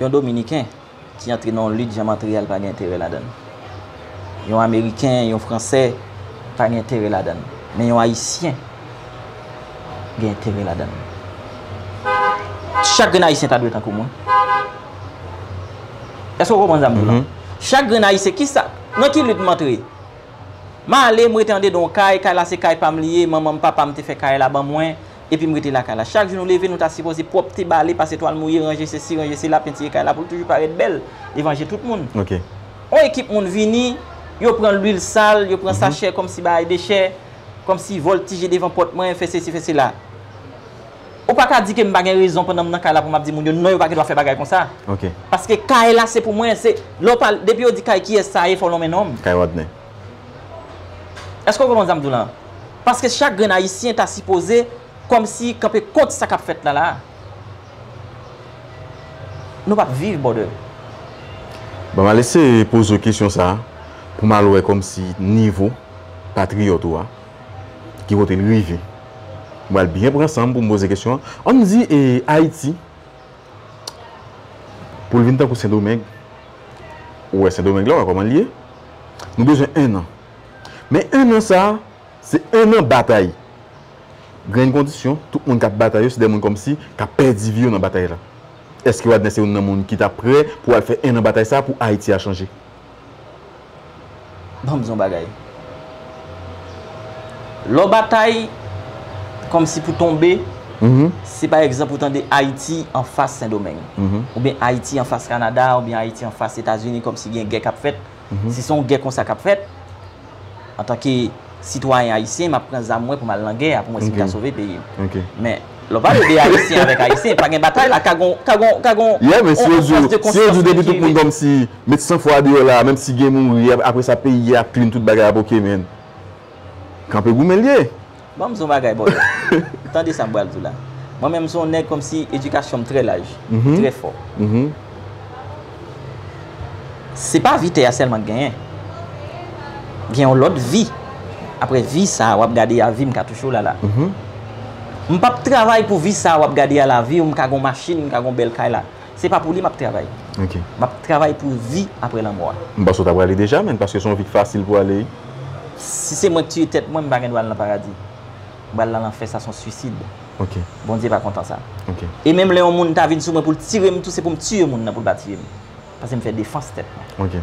Yon Dominiken ki antre nan yon lit jan Montréal pa gen enterè ladan l. Yon Ameriken, yon Fransè pa gen enterè ladan l. Men yon Ayisyen gen enterè ladan l. Chak grenn Ayisyen ta dwe tankou mwen. Èske ou konprann sa m di w la? Chak grenn Ayisyen, ki sa, nan ki lit m antre? M ale, m rete andedan yon kay, kay la se kay pa m li ye, manman m, papa m te fè kay la ban mwen, Epi m rete lakay la. Chak jou nou leve nou ta sipoze pwòpte, bale, pase twal mouye, ranje sesi, ranje sela, pentire kay la pou l toujou parèt bèl devan je tout moun. On ekip moun vini, yo pran lwil sal, yo pran sachè kòmsi bagay dechè, kòmsi vòltije devan pòt mwen, fè sesi, fè sela. Ou pa ka di ke m pa gen rezon pandan m nan kay la pou m ap di moun yo non yo pa gen dwa fè bagay konsa. Paske kay la se pou mwen, se lè w pale, depi yo di kay kiyès sa ye fò w lonmen non m. Kay Rodney. Eske w konprann sa m di w la a? Paske chak grenn Ayisyen ta sipoze kòmsi kanpe kont sa k ap fèt la la a. Nou p ap viv brother. Bon m al eseye poze w kesyon sa a pou m al wè kòmsi nivo patriyòt ou a ki kote l rive. M pral byen pran san m pou m poze kesyon an. An m di Ayiti. Pou l vin tankou Sendomeng, ou wè Sendomeng la, ou wè kòman l ye, nou bezwen ennan. Men ennan sa a, se ennan batay. Grenn kondisyon, tout moun k ap batay yo, se de moun kòmsi k ap pèdi vi yo nan batay la. Èske Wadner se youn nan moun ki ta prè pou al fè ennan batay sa a pou Ayiti a chanje? Ban m di w yon bagay. Lè w batay kòm si pou tonbe, si pa egzanp ou tande Ayiti anfas Sendomeng, oubyen Ayiti anfas Kanada, oubyen Ayiti anfas Etazini kòm si gen gè k ap fèt, si se yon gè konsa k ap fèt, antanke sitwayen ayisyen map pran zam mwen pou mal nan gè a pou mwen sim ka sove peyim men lè w pale de ayisyen avèk ayisyen pa gen batay la ka gon ka gon ka gon ye men si yo di w si yo di w depi tout moun kòmsi met san fwa deyò la menm si gen mouri apresa peyi a ap klin tout bagay ap ok men kanpe goumen l ye. Ban m son bagay bolo. Tande sa m pral di w la. Mwen menm m son nèg kòmsi edikasyon m trè laj, trè fò. Se pa vi tè a sèlman k genyen. Gen yon lòt vi. Aprè vi sa a w ap gade a vi m katouchou la la. M p ap travay pou vi sa a w ap gade a la vi ou m ka gen yon machin, m ka gen yon bèl kay la. Se pa pou li map travay. Map travay pou vi apre lanmò a. M panse w ta prale deja menn paske se yon vi ki fasil pou ale. Si se mwen ki tiye tèt mwen m pa gen dwa al nan paradi. M pral nan lanfè sa son swisid. Bondye pa kontan sa. E menm lè yon moun ta vin sou mwen pou l tire m tou se pou m tiye moun nan pou l pa tiye m. Paske m fè defans tèt mwen.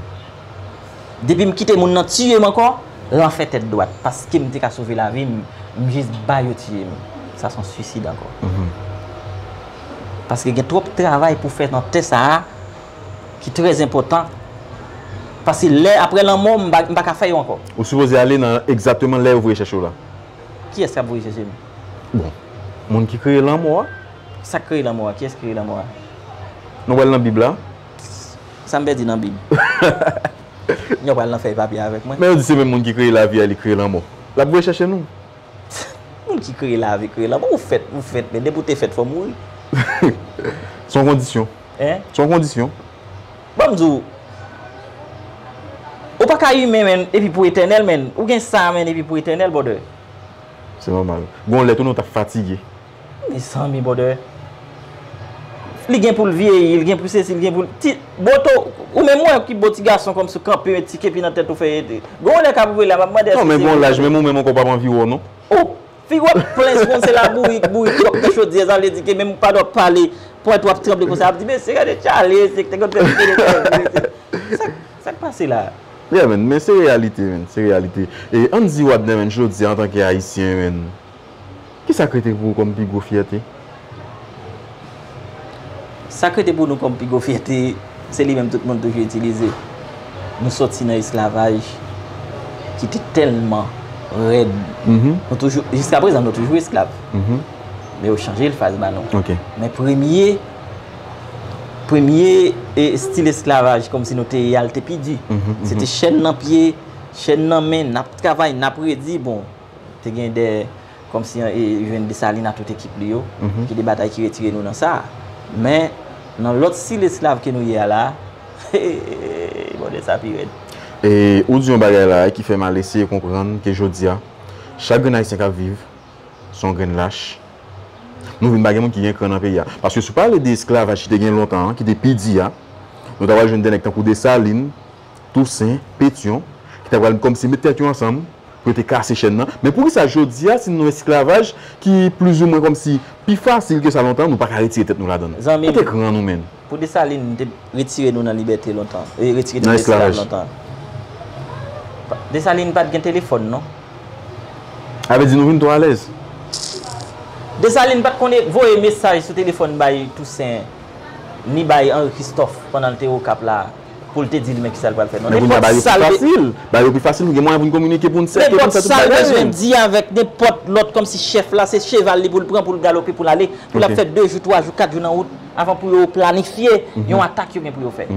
Depi m kite moun nan tiye m ankò lanfè tèt dwat paske m te ka sove lavi m m jis ba yo tiye m sa son swisid ankò. paske gen twòp travay pou fè nan tè sa a ki trè zenpòtan paske lè aprè lanmò m m pa ka fè yo ankò. Ou sipoze ale nan egzateman lè yo voye chèche w la. Kiyès k ap voye chèche m? Bon, moun ki kreye lanmò a. Sa k kreye lanmò a? Kiyès ki kreye lanmò a? Nou pral nan Bib la. Sa m pèdi nan Bib? N ap pral nan fèy papye avèk mwen. Men yo di se menm moun ki kreye lavi a li kreye lanmò. L ap voye chèche nou. Moun ki kreye lavi kreye lanmò ou fèt ou fèt men depi ou te fèt fò mouri. Se yon kondisyon. Se yon kondisyon. Bon m di w ou pa ka imen men epi pou etènèl men ou gen sa men epi pou etènèl brother. Se nòmal. Gon lè tou nou ta fatige. Mezanmi brother Li gen poul vyeyi, li gen pou sesi, li gen poul ti Boto, ou menm wè ki bo ti gason kòmsi ou kanpe yon ti kepi nan tèt ou fè e Gon lè kap rive la map mande eske se Non men gon laj menm ou menm ankò pap anvi wè w non Ou, figi w ap plen si konn se labourik bourik wap nan chodyè sa vle di ke menm pad wap pale pwent ou ap tranble konsa ap di mesye gade Charly mesye te konn fè pike de tèt li mesye Sak, sak pase la a? Yeah man men se reyalite man, se reyalite E ann di Wadner menm jodi a antanke ayisyen man Ki sa k rete pou ou kòm pi gwo fyète? Sa k rete pou nou kòm pi gwo fyète, se li menm tout moun toujou itilize. Nou soti nan esklavaj ki te tèlman rèd. Jiska prezan nou toujou esklav. Men yo chanje l faz ba nou. Men premye, premye estil esklavaj kòmsi nou te ye a, li te pi di. Se te chèn nan pye, chèn nan men, n ap travay, n ap redi. Bon. Te gen de, kòm si e jwenn Desalin a tout ekip li yo, ki de batay ki retire nou nan sa a. Men, nan lòt stil esklav ke nou ye a la, heeeeey, bòdè sa pi rèd. E ou di yon bagay la a ki fè m al eseye konprann ke jodi a, chak grenn Ayisyen k ap viv, se yon grenn lach. Nou vin pa gen moun ki gen kran nan peyi a. Paske si w pale de esklavaj ki te gen lontan an, ki te pi di a, nou ta pral jwenn de nèg tankou Desalin, Tousen, Petyon, ki ta pral kòmsi met tèt yo ansanm pou yo te kase chèn nan. Men poukisa jodi a, si nou nan yon esklavaj ki plizoumwen kòmsi pi fasil ke sa lontan, nou pa ka retire tèt nou ladan l? Zanmi m, pou Desalin te retire nou nan libète lontan, retire nou nan esklavaj lontan, Desalin pa t gen telefòn non. A vle di nou vin twò alèz? Desalin pa t konn voye mesaj sou telefòn bay Tousen, ni bay Anri Kristòf pandan l te Okap la. pou l te di li men kisa l pral fè non. Nenpòt sa l fasil. Ba yo pi fasil gen mwayen pou n kominike pou n sèke pou n fè tout bagay. Nenpòt sa l bezwen di avèk nenpòt lòt kòmsi chèf la se cheval li pou l pran pou l galope pou l ale pou l ap fè 2 jou 3 jou 4 jou nan wout avan pou yo planifye yon atak yo gen pou yo fè.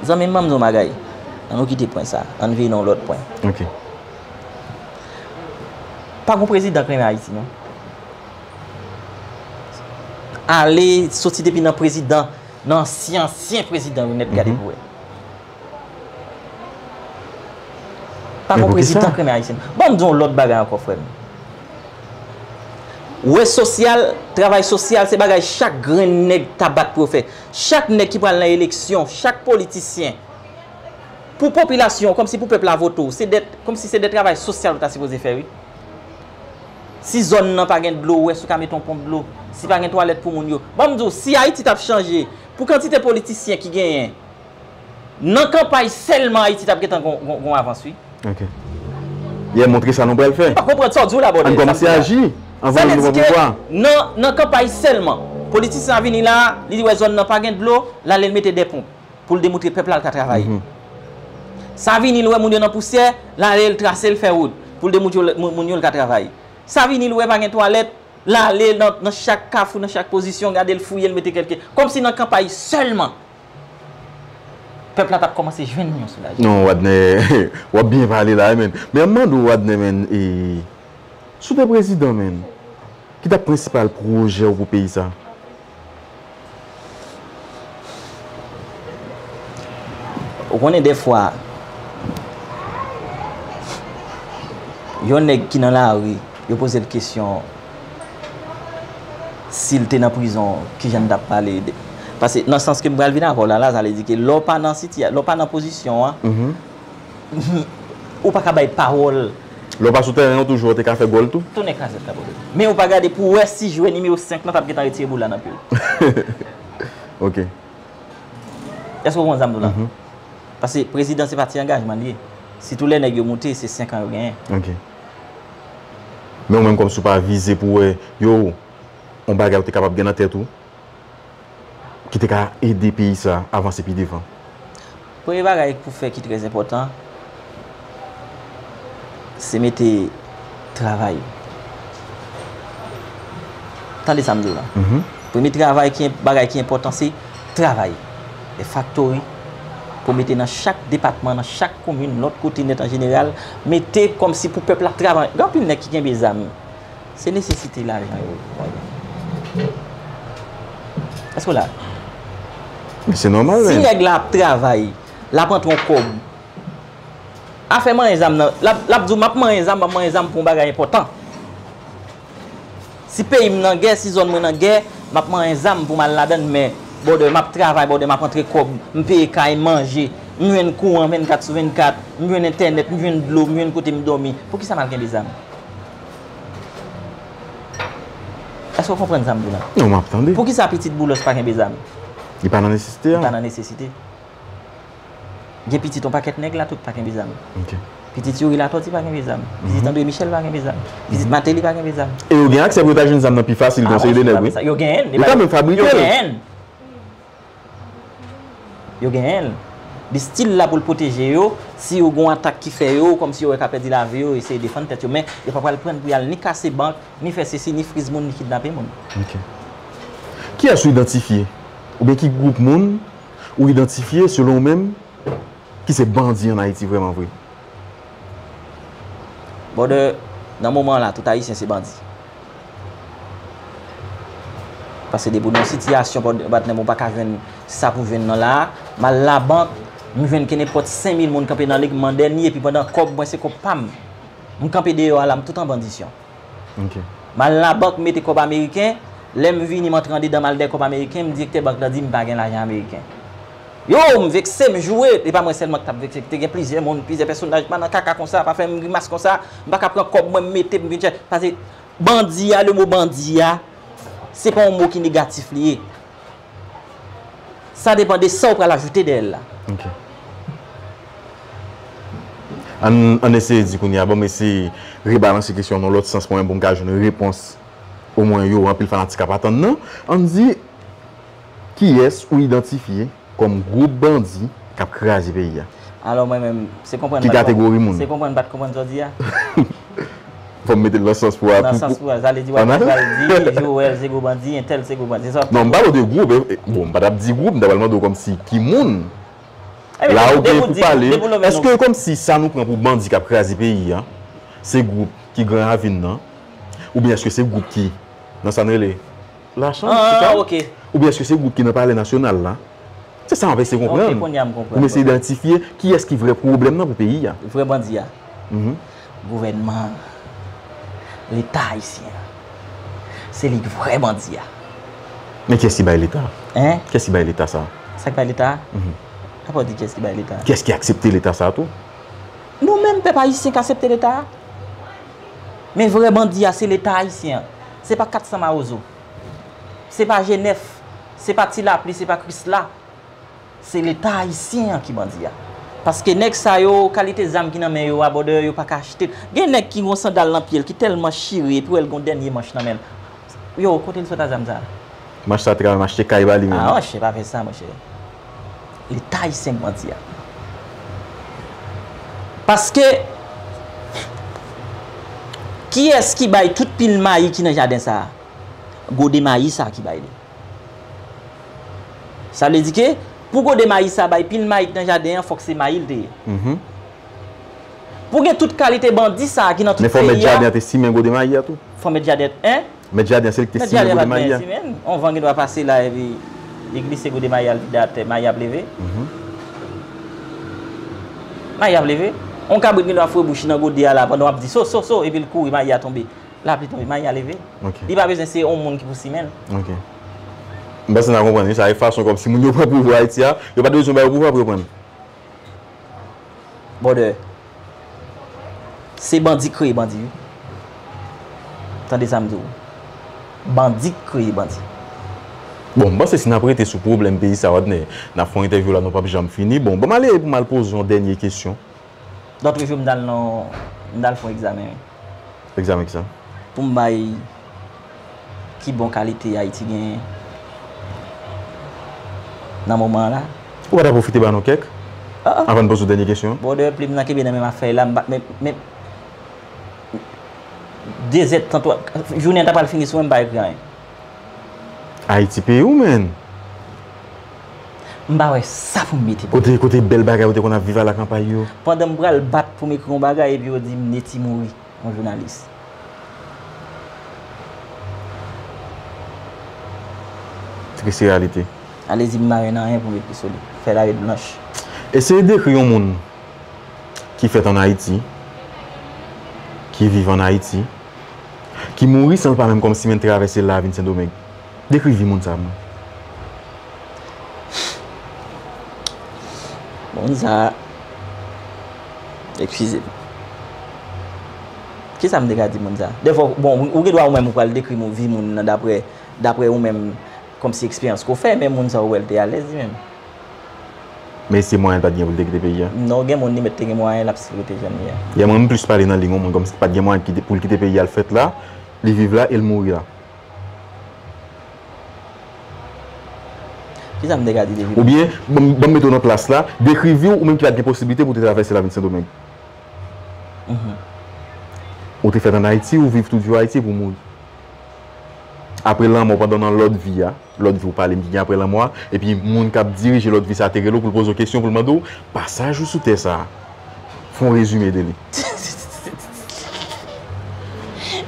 Zanmi m banm di w yon bagay an nou kite pwen sa an n veye nan yon lòt pwen. Pa gen yon prezidan k renmen Ayiti non. Ale soti depi nan prezidan nan ansyen ansyen prezidan yo nèt gade pou wè. Pa gon prezidan k renmen ayisyen. Ban m di w yon lòt bagay ankò frè m. Wè sosyal, travay sosyal se bagay chak grenn nèg ta bat pou yo fè. Chak nèg ki pral nan eleksyon, chak politisyen, pou popilasyon w, kòmsi pou pèp la vote w, se de, kòmsi se de travay sosyal ou ta sipoze fè wi. Si zòn nan pa gen dlo ou wè si w ka mete yon ponp dlo, si pa gen twalèt pou moun yo. Ban m di w, si Ayiti t ap chanje pou kantite politisyen ki genyen, nan kanpay sèlman Ayiti t ap gen tan gon avans wi. Ok. Yè montre sa nou pral fè. M pa konprann sa w di w la bòdè. An n kòmanse aji anvan nou pran pouvwa. Nan kanpay sèlman. Politisyen an vini la, li wè zòn nan pa gen dlo, l ale l mete 2 ponp. pou l demoutre pèp la l ka travay. Sa vini l wè moun yo nan pousyè, l ale l trase l fè wout pou l demoutre moun yo l ka travay. Sa vini l wè pa gen twalèt, l ale nan chak kafou, nan chak pozisyon, gade l fouye l mete kèlke. Kòm si nan kanpay sèlman pèp la t ap kòmanse jwenn yon soulajman. Non Wadnè, w ap byen pale la wi menn. Men an m mande w Wadnè menn, si w te prezidan menn, ki t ap prensipal pwojè w pou peyi sa? Ou konnen defwa, yon nèg ki nan lari, yo poze l kesyon, si l te nan prizon, ki jan l t ap pale? Pase nan sans ke m pral vin avè w la, Lazare di ke lè w pa nan sitiyasyon, lè w pa nan pozisyon an, Humm ou paka bay pawol. Lè w pa sou tèren an toujou ou te ka fè gòl tou. Tonnè krazèt kapote. Men ou pa gade pou wè si jwè nimewo 5 lan tap gentan retire boul la nan pye w. Ok. Èske ou konprann sa m di w la? Pase prezidan se pa ti angajman li ye. Sitou lè nèg yo moute se 5 an yo genyen. Ok. Men ou menm kòmsi ou pa vize pou wè yo on bagay ou te kapab gen nan tèt ou. ki te ka ede peyi sa avanse pi devan? Premye bagay pou fè ki trè enpòtan, se mete travay. Tande sa m di w la. Premye travay ki, bagay ki enpòtan se travay. Fè faktori pou mete nan chak depatman, nan chak komin, lòt kote nèt an jeneral, mete kòmsi pou pèp la travay. Gen anpil nèg ki kenbe zam. Se nesesite lajan yo pran yo. Èske w la? Men se nòmal men. Si nèg la ap travay, l ap antre yon kòb. Afè manyen zam nan, l ap di w m ap manyen zam, m ap manyen zam pou yon bagay enpòtan. Si peyi m nan gè, si zòn mwen nan gè, m ap manyen zam pou m al ladan l men bòdè. M ap travay bòdè, m ap antre kòb, m peye kay, m manje, m jwenn kouran 24 sou 24, m jwenn entènèt, m jwenn dlo, m jwenn kote m dòmi. Poukisa m al kenbe zam? Èske ou konprann sa m di la? Non, m ap tande. Poukisa pitit Boulos pa kenbe zam? Li pa nan nesesite a? Li pa nan nesesite. Gen pitit yon pakèt nèg la, tout pa kenbe zam. Ok. Pitit Youri Latòti pa kenbe zam. Pitit Andre Michel pa kenbe zam. Pitit Mateli pa kenbe zam. E yo gen aksè pou yo ta jwenn zam nan pi fasil ke yon seri de nèg wi. Yo genyen l. Yo ta menm fabrike l. Yo genyen l. Yo genyen l. Li stil la pou l pwoteje yo, si yo gen yon atak ki fè yo, kòmsi yo wè ka pèdi lavi yo, yo eseye defann tèt yo. Men, yo pa pral pran pou y al ni kase bank, ni fè sesi, ni friz moun, ni kidnape moun. Ok. Kiyès ou idantifye, oubyen ki gwoup moun ou idantifye, selon ou menm, ki se bandi an Ayiti vrèman vre? Brother, nan moman la tout ayisyen se bandi. Pase depi w nan yon sitiyasyon brother patnè m ou pa ka jwenn sa pou jwenn nan la a, m al labank m jwenn kenenpòt 5000 moun kanpe nan li m mande li epi pandan kòb mwen se kòb pa m. M kanpe deyò a la m tout an bandisyon. M al labank m mete kòb ameriken, lè m vini m antre andedan m al dè kòb ameriken m direktè bank la di m pa gen lajan ameriken. Yoww m vekse m joure, e pa mwen sèlman ki tap vekse te gen plizyè moun, plizyè pèsonaj pa nan kaka konsa, pa fèm grimas konsa, m paka pran kòb mwen m mete m vin chè, pase bandi a le mo bandi a se pa yon mo ki negatif li ye sa depan de sa ou pral ajoute dèyèl la. Ok Ann eseye di kounye a banm eseye rebalanse kesyon an yon lòt sans mwen menm pou m ka jwenn repons omwen yo anpil fanatik ap atann nan, ann di Kiyès ou idantifye kòm gwoup bandi k ap kraze peyi a? Alò mwen menm, se konprann m Ki pa t konprann. kategori moun? Se konprann m pa t konprann sa w di a? Fò m mete l nan sans pou. Nan sans pou, sa vle di w ap toujou al di Joel se gwo bandi, entèl se gwo bandi, se sa w ap toujou. Non, m pale w de gwoup e, bon, m pa t ap di gwoup, m ta pral mande w kòmsi ki moun. Ebyen, depi w di gwoup, depi w lonmen nou. Èske kòmsi sa nou pran pou bandi k ap kraze peyi a, se gwoup ki Gran Ravin nan, oubyen èske se gwoup ki nan sa n rele. La chanm, se sa? Ah, ok. Oubyen èske se gwoup ki nan Palè Nasyonal la? Se sa m ap eseye konprann. Ok, kounye a m konprann. Pou m eseye idantifye kiyès ki vrè pwoblèm nan pou peyi a. Vrè bandi a? Gouvènman an. Leta ayisyen an. Se li ki vrè bandi a. Men kiyès ki bay Leta? Hein? Kiyès ki bay Leta sa? Sa ki bay Leta a? Sa fè w di kiyès ki bay Leta a? Kiyès ki aksepte Leta sa tou? Nou menm pèp ayisyen k asepte Leta a. Men vrè bandi a se leta ayisyen an. Se pa 400 mawozo. Se pa G9. Se pa ti lapli, se pa krisla. Se leta ayisyen an ki bandi a. Paske nèg sa yo, kalite zam ki nan men yo a, bòdè yo pa ka achte l. Gen nèg ki gon sandal nan pye l ki tèlman chire epi w wè l gon dènye manch nan men l. Yow, kote l sot a zam sa a? Manch sa te ka menm achte kay ba li menm. Aah monchè pa fè sa monchè. Leta ayisyen k mandi a. Paske, kiyès ki bay tout pil mayi ki nan jaden sa a? Gode mayi sa a ki bay li. Sa vle di ke, pou gode mayi sa a bay pil mayi ki nan jaden an, fòk se mayi l te ye. Pou gen tout kalite bandi sa a ki nan tout peyi a. Men fò mèt jaden an te simen gode mayi a tou? Fò mèt jaden an. Mèt jaden se li ki te simen gode mayi a. On van gen dwa pase la epi li glise gode mayi a li vide atè, mayi ap leve. Mayi ap leve. On kabrit gen dwa foure bouch li nan gode a la pandan w ap di so, so, so epi l kouri mayi a tonbe. Lapli tonbe, mayi a leve. Li pa bezwen se on moun ki pou simen l. Ok. M panse n a konprann wi sa e fason kòmsi moun yo pran pouvwa Ayiti a. Yo pa te bezwen ba yo pouvwa pou yo pran l. Brother se bandi k kreye bandi wi tande sa m di w bandi k kreye bandi. Bon m panse si nap rete sou pwoblèm peyi sa Wadner n ap fè yon entèvyou la nou pap janm fini bon banm ale pou m al poze w yon dènye kesyon. Lòt jou m t al nan m t al fè yon egzamen wi. Pou m bay ki bon kalite Ayiti genyen nan moman an la? Ou pa ta pwofite ba nou kèk anvan n poze w dènye kesyon an? Brother, plim nan kenbe nan men m ap fè l la. M pa, men, men, dezèdtan, jounen an ta pral fini sou mwen, m pa ekri anyen. Ayiti peyi ou menn. M pa wè sa pou m mete pou nou. Kote bèl bagay ou te konn ap viv ala kanpay yo? Pandan m pral bat pou m ekri yon bagay epi yo di m Netty mouri, yon jounalis. Triste reyalite. Alezi m pa jwenn anyen pou m ekri sou li. Fèy la ret blanch. Eseye dekri yon moun ki fèt an Ayiti, ki viv an Ayiti. ki mouri san l pa menm kòmsi menm travèse l la vin Sendomeng. Dekri vi moun sa pou mwen. Moun sa, ekskize m. Kisa m te ka di moun sa? Defo, bon, ou gen dwa ou menm ou pral dekri moun vi moun nan daprè, daprè ou menm kòmsi eksperyans ke w fè, men moun sa ou wè l te alèz li menm? Mesye mwayen pat gen pou li te kite peyi a. Non gen moun li mèt te gen mwayen lap sipote jan li a. Yè mwen m plis pale nan liy yon moun kòmsi li pat gen mwayen pou li kite peyi a l fèt la, li viv la e l mouri la. Kisa m te ka di de vi Madan Jacques? Oubyen banm mete w nan plas la, dekri vi w ou menm ki pat gen posiblite pou w te travèse la vin Sendomeng. Ou te fèt an Ayiti, ou viv toujou Ayiti epi w mouri. Aprè lanmò pandan nan lòt vi a. Lòt vi w pale m ki gen apre lanmò a, epi moun k ap dirije lòt vi sa a te rele w pou l poze w kesyon, pou l mande w, Pasaj ou sou tè sa a, fè yon rezime de li.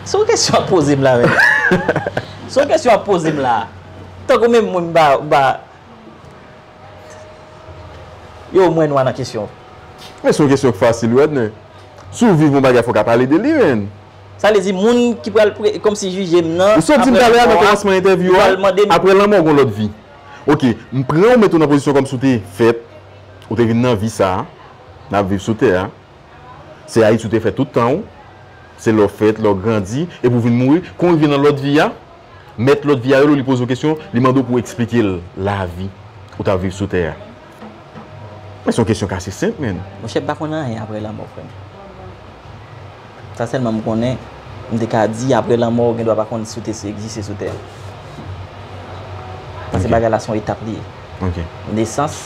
Se yon kesyon w ap poze m la menm? Se yon kesyon w ap poze m la? Tankou menm mwen m pa, m pa. Yow mwen nwa nan kesyon. Men se yon kesyon k fasil wi Adner. Si w viv yon bagay fò w ka pale de li menn. Sa vle di moun ki pral kòmsi jije m nan apre lanmò a, li pral mande m. Apre lanmò ou gen lòt vi. Ok, m pran ou met ou nan pozisyon kòmsi ou te fèt, ou te vin nan vi sa a, n ap viv sou tè a. Se Ayiti ou te fè tout tan ou. Se la ou fèt, la ou grandi, epi ou vin mouri. Kon ou rive nan lòt vi a, mèt lòt vi a rele ou, li poze ou kesyon, li mande ou pou eksplike l lavi ou t ap viv sou tè a. Men son kesyon k ase senp menn. Monchè m pa konn anyen aprè lanmò frè m. Sa sèlman m konnen, m te ka di aprè lanmò ou gen dwa pa konn si w te egziste sou tè a. Pase bagay la se yon etap li ye. Nesans,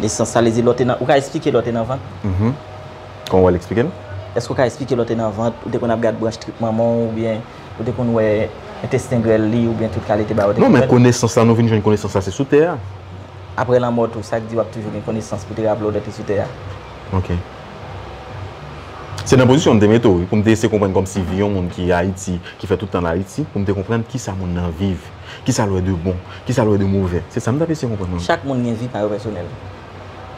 nesans sa vle di lè w te nan, ou ka esplike lè w te nan vant? Kòman w wè l eksplike l? Èske w ka esplike lè w te nan vant, ou te konn ap gad branch trip manman w oubyen Ou te konn wè entesten grèl li oubyen tout kalite bagay ou te konn wè? Non men konesans la nou vin jwenn konesans la se sou tè a. Aprè lanmò tou sak di wap toujou gen konesans pou te raple w lè w te sou tè a? Ok. Se nan pozisyon m te mete w wi, pou m te eseye konprann kòmsi vi yon moun ki Ayiti, ki fè tout tan l Ayiti, pou m te konprann kisa moun nan viv, kisa l wè de bon, kisa l wè de movè. Se sa m t ap eseye konprann nan w. Chak moun gen vi pa yo pèsonèl.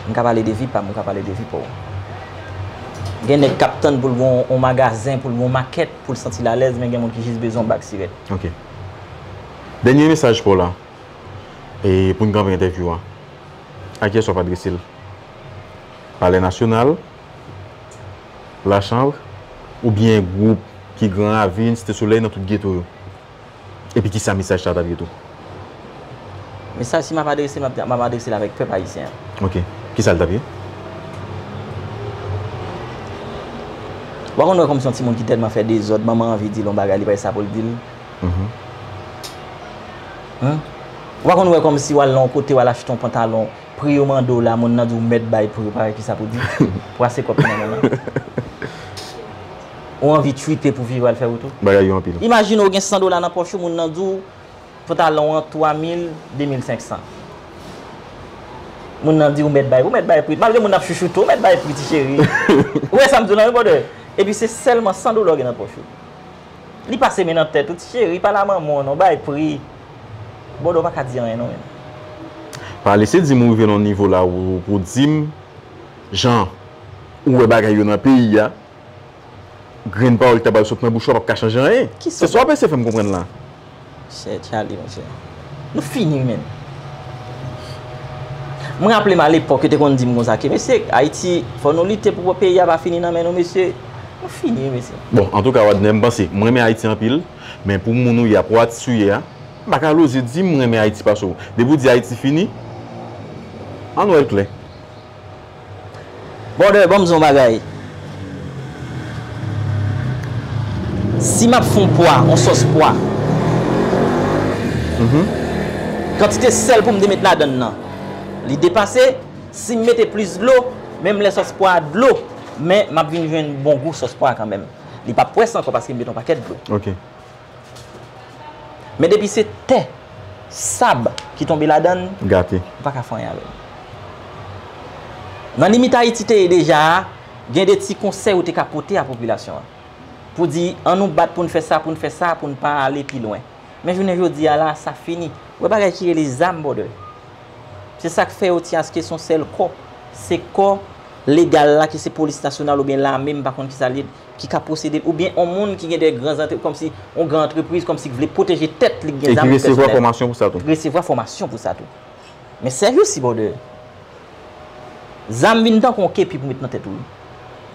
M ka pale de vi pa m, ou ka pale de vi pa w. Gen nèg k ap tann pou l gen yon magazen, pou l gen yon makèt. pou l santi l alèz men gen moun ki jis bezwen yon bak sirèt. Ok. Dènye mesaj paw la e pou n kanpe entèvyou a. A kiyès wap adrese l? Palè Nasyonal? La Chanbre? Oubyen gwoup ki Gran Ravin, Site Solèy nan tout geto yo? Epi kisa mesaj sa a t ap ye tou? Mesaj si m ap adrese m ap adrese l avèk pèp ayisyen an. Ok. Kisa l t ap ye? W pa konn wè kòm se yon timoun ki tèlman fè dezòd, manman an anvi di l yon bagay li pa wè sa pou l di l. W pa konn wè kòmsi w al nan yon kote w al achte yon pantalon. Pri yo mande w la moun nan di w mèt bay pri w pa wè kisa pou di. Pwase kòb nan men nan. Ou anvi twite pou viv al fè wout ou. Bagay yo anpil. Imajine w gen 100 dola nan pòch ou moun nan di w pantalon w an 3 mil, 2 mil 500. Moun nan di w mèt bay pri w, ou mèt bay pri. Malgre moun nan ap chouchoute w, ou mèt bay pri ti cheri. Ou wè sa m di w la wi bwòdè. Epi se sèlman 100 dola w gen nan pòch ou. Li pase men nan tèt ou ti cheri pale a manman w non bay pri Bodo pa ka di anyen non menm. Pa lese dim ou rive nan nivo la pou dim jan ou wè bagay yo nan peyi a grenn pawòl ki ta pral sot nan bouch ou a pap ka chanje anyen se sa wap ese fèm konprann la. Sè Charly monchè. Nou fini menn. M raple m alepòk yo te konn di m konsa ke mesye Ayiti fò nou lite pou peyi a pa fini nan men nou mesye. Nou fini wi mesye. Bon antouka Wadner m panse m renmen Ayiti anpil men pou moun ou ye a pou atis ou ye a m pa ka loze di m renmen Ayiti pase w. Depi w di Ayiti fini an nou wè l klè. Brother banm di yon bagay si map fon pwa yon sòs pwa kantite sèl poum te met ladann nan li depase sim mete plis dlo menm lè sòs pwa a dlo men map vin jwenn bon gou sòs pwa a kanmenm li pap pwès ankò paske m met yon pakèt dlo Men depi se tè, sab ki tonbe ladan l, ou pa ka fè anyen avè l. Nan limit Ayiti te ye deja a, gen de ti konsèy ou te ka pote a popilasyon an. Pou di, an nou bat pou n fè sa, pou n fè sa, pou n pa ale pi lwen. Men jounen jodi a la, sa fini. Ou wè bagay ki rele zam brother. Se sa k fè yo ti aske se yon sèl kò. Se kò legal la ki se polis nasyonal oubyen lame m pa konn ki sa l ye. ki ka posede l oubyen yon moun ki gen de gran zantrepriz kòmsi yon gran antrepriz kòmsi ki vle pwoteje tèt li ki gen zam li pèsonèl. E ki resevwa fòmasyon pou sa tou. Resevwa fòmasyon pou sa tou. Men sèvis si bòdè. Zam vin tankou yon kepi pou met nan tèt ou wi.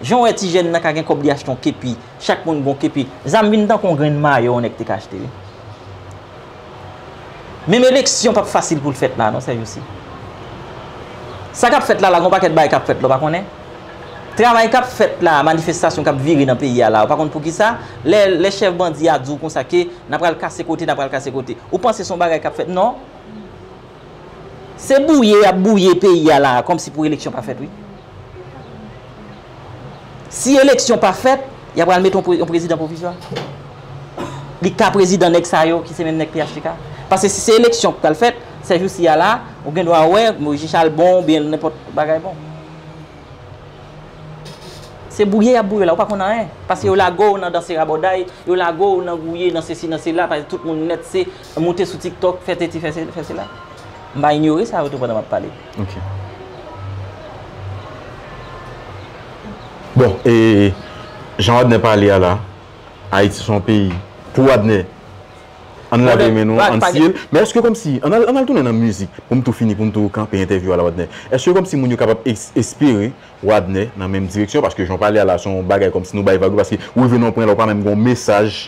Jan w wè ti jèn nan ka gen kòb li achte yon kepi, chak moun gen yon kepi, zam vin tankou yon grenn mayo yon nèg te ka achte wi. Menm eleksyon pap fasil pou l fèt la non sè Jousi. Sa k ap fèt la la gen yon pakèt bagay k ap fèt la w pa konnen? Travay k ap fèt la, manifestasyon k ap vire nan peyi a la w pa konn poukisa? Lè chèf bandi a di w konsa ke n a pral kase kote, n a pral kase kote, ou panse se yon bagay k ap fèt? Non. Se bouye y ap bouye peyi a la a kòmsi pou eleksyon pa fèt wi. Si eleksyon pa fèt, ya pral mete yon prezidan pwovizwa. Li ka prezidan nèg sa yo ki se menm nèg phtk. Pase si se eleksyon ki pral fèt, sè jousi ya la, ou gen dwa wè Moise Charles bon, oubyen nenpòt bagay bon. Se bouye yap bouye w la, ou pa konn anyen. Pase yo lage w nan danse rabòday, yo lage w nan gouye, nan sesi, nan sela, pase tout moun nèt se moute sou tiktok, fè sesi, fè sela. M pa inyore sa yo tou pandan map pale. Bon, e jan Wadner pale a la, Ayiti son peyi, pou Wadner, an lave men nou, an siye l, men eske kòm si, an al tounen nan mizik, pou m tou fini, pou m tou kanpe entèvyou a la Wadner, eske kòm si moun yo kapab espere Wadner nan menm direksyon, paske jan w pale a la, son bagay kòm si nou bay vag yo, paske ou leve nan yon pwen la, ou pa menm gen yon mesaj.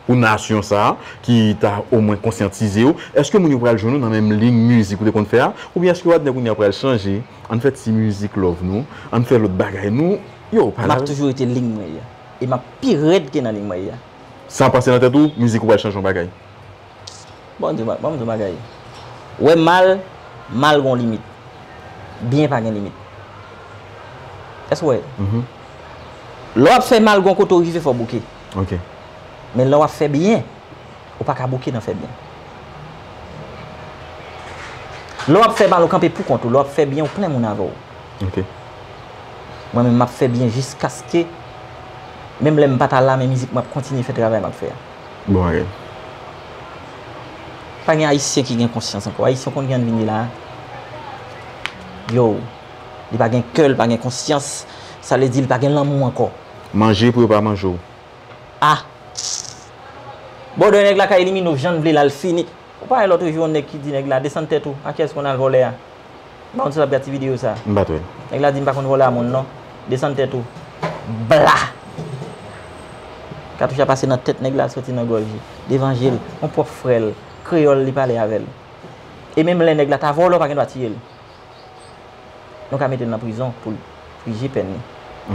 pou nasyon sa a ki ta omwen konsyantize yo, èske moun yo pral jwenn ou nan menm liy mizik ou te konn fè a oubyen èske Wadner kounye a pral chanje, ann fè ti mizik love nou, ann fè lòt bagay nou, yow pa la. Map toujou rete liy mwen ya e map pi rèd ke nan liy mwen ya. Sa pase nan tèt ou mizik ou pral chanje yon bagay? Bon m di w yon bagay, wè mal, mal gen yon limit, byen pa gen limit. Èske w wè? Lè wap fè mal gen yon kote ou rive fò w bouke. Ok. Men lè wap fè byen, ou pa ka bouke nan fè byen. Lè wap fè mal ou kanpe pou kont ou, lè wap fè byen ou plen moun avèw. Ok. Mwen menm map fè byen jiskaske menm lèm pa ta la men mizik map kontinye fè travay map fè a. Bon bagay. Pa gen ayisyen ki gen konsyans ankò. Ayisyen konn kijan li vini la a? Yow, li pa gen kè, li pa gen konsyans, sa vle di li pa gen lanmou ankò. Manje pou yo pa manje w. Ah! Bòdè nèg la ka elimine w jann vle la l fini. Ou pa wè lotre jou yon nèg ki di nèg la desann tèt ou a kiyès konn al vòlè a? M pa konn si w ap gad ti videyo sa. M pat wè l. Nèg la di m pa konn vòlè a moun non. Desann tèt ou. Bla! Katouch la pase nan tèt nèg la soti nan gòj li. Devan je l. Yon pwòp frè l. Kreyòl li pale avè l. E menm lè nèg la ta vòlè w pa gen dwa tiye l. Nou ka mete l nan prizon pou l pije pèn li.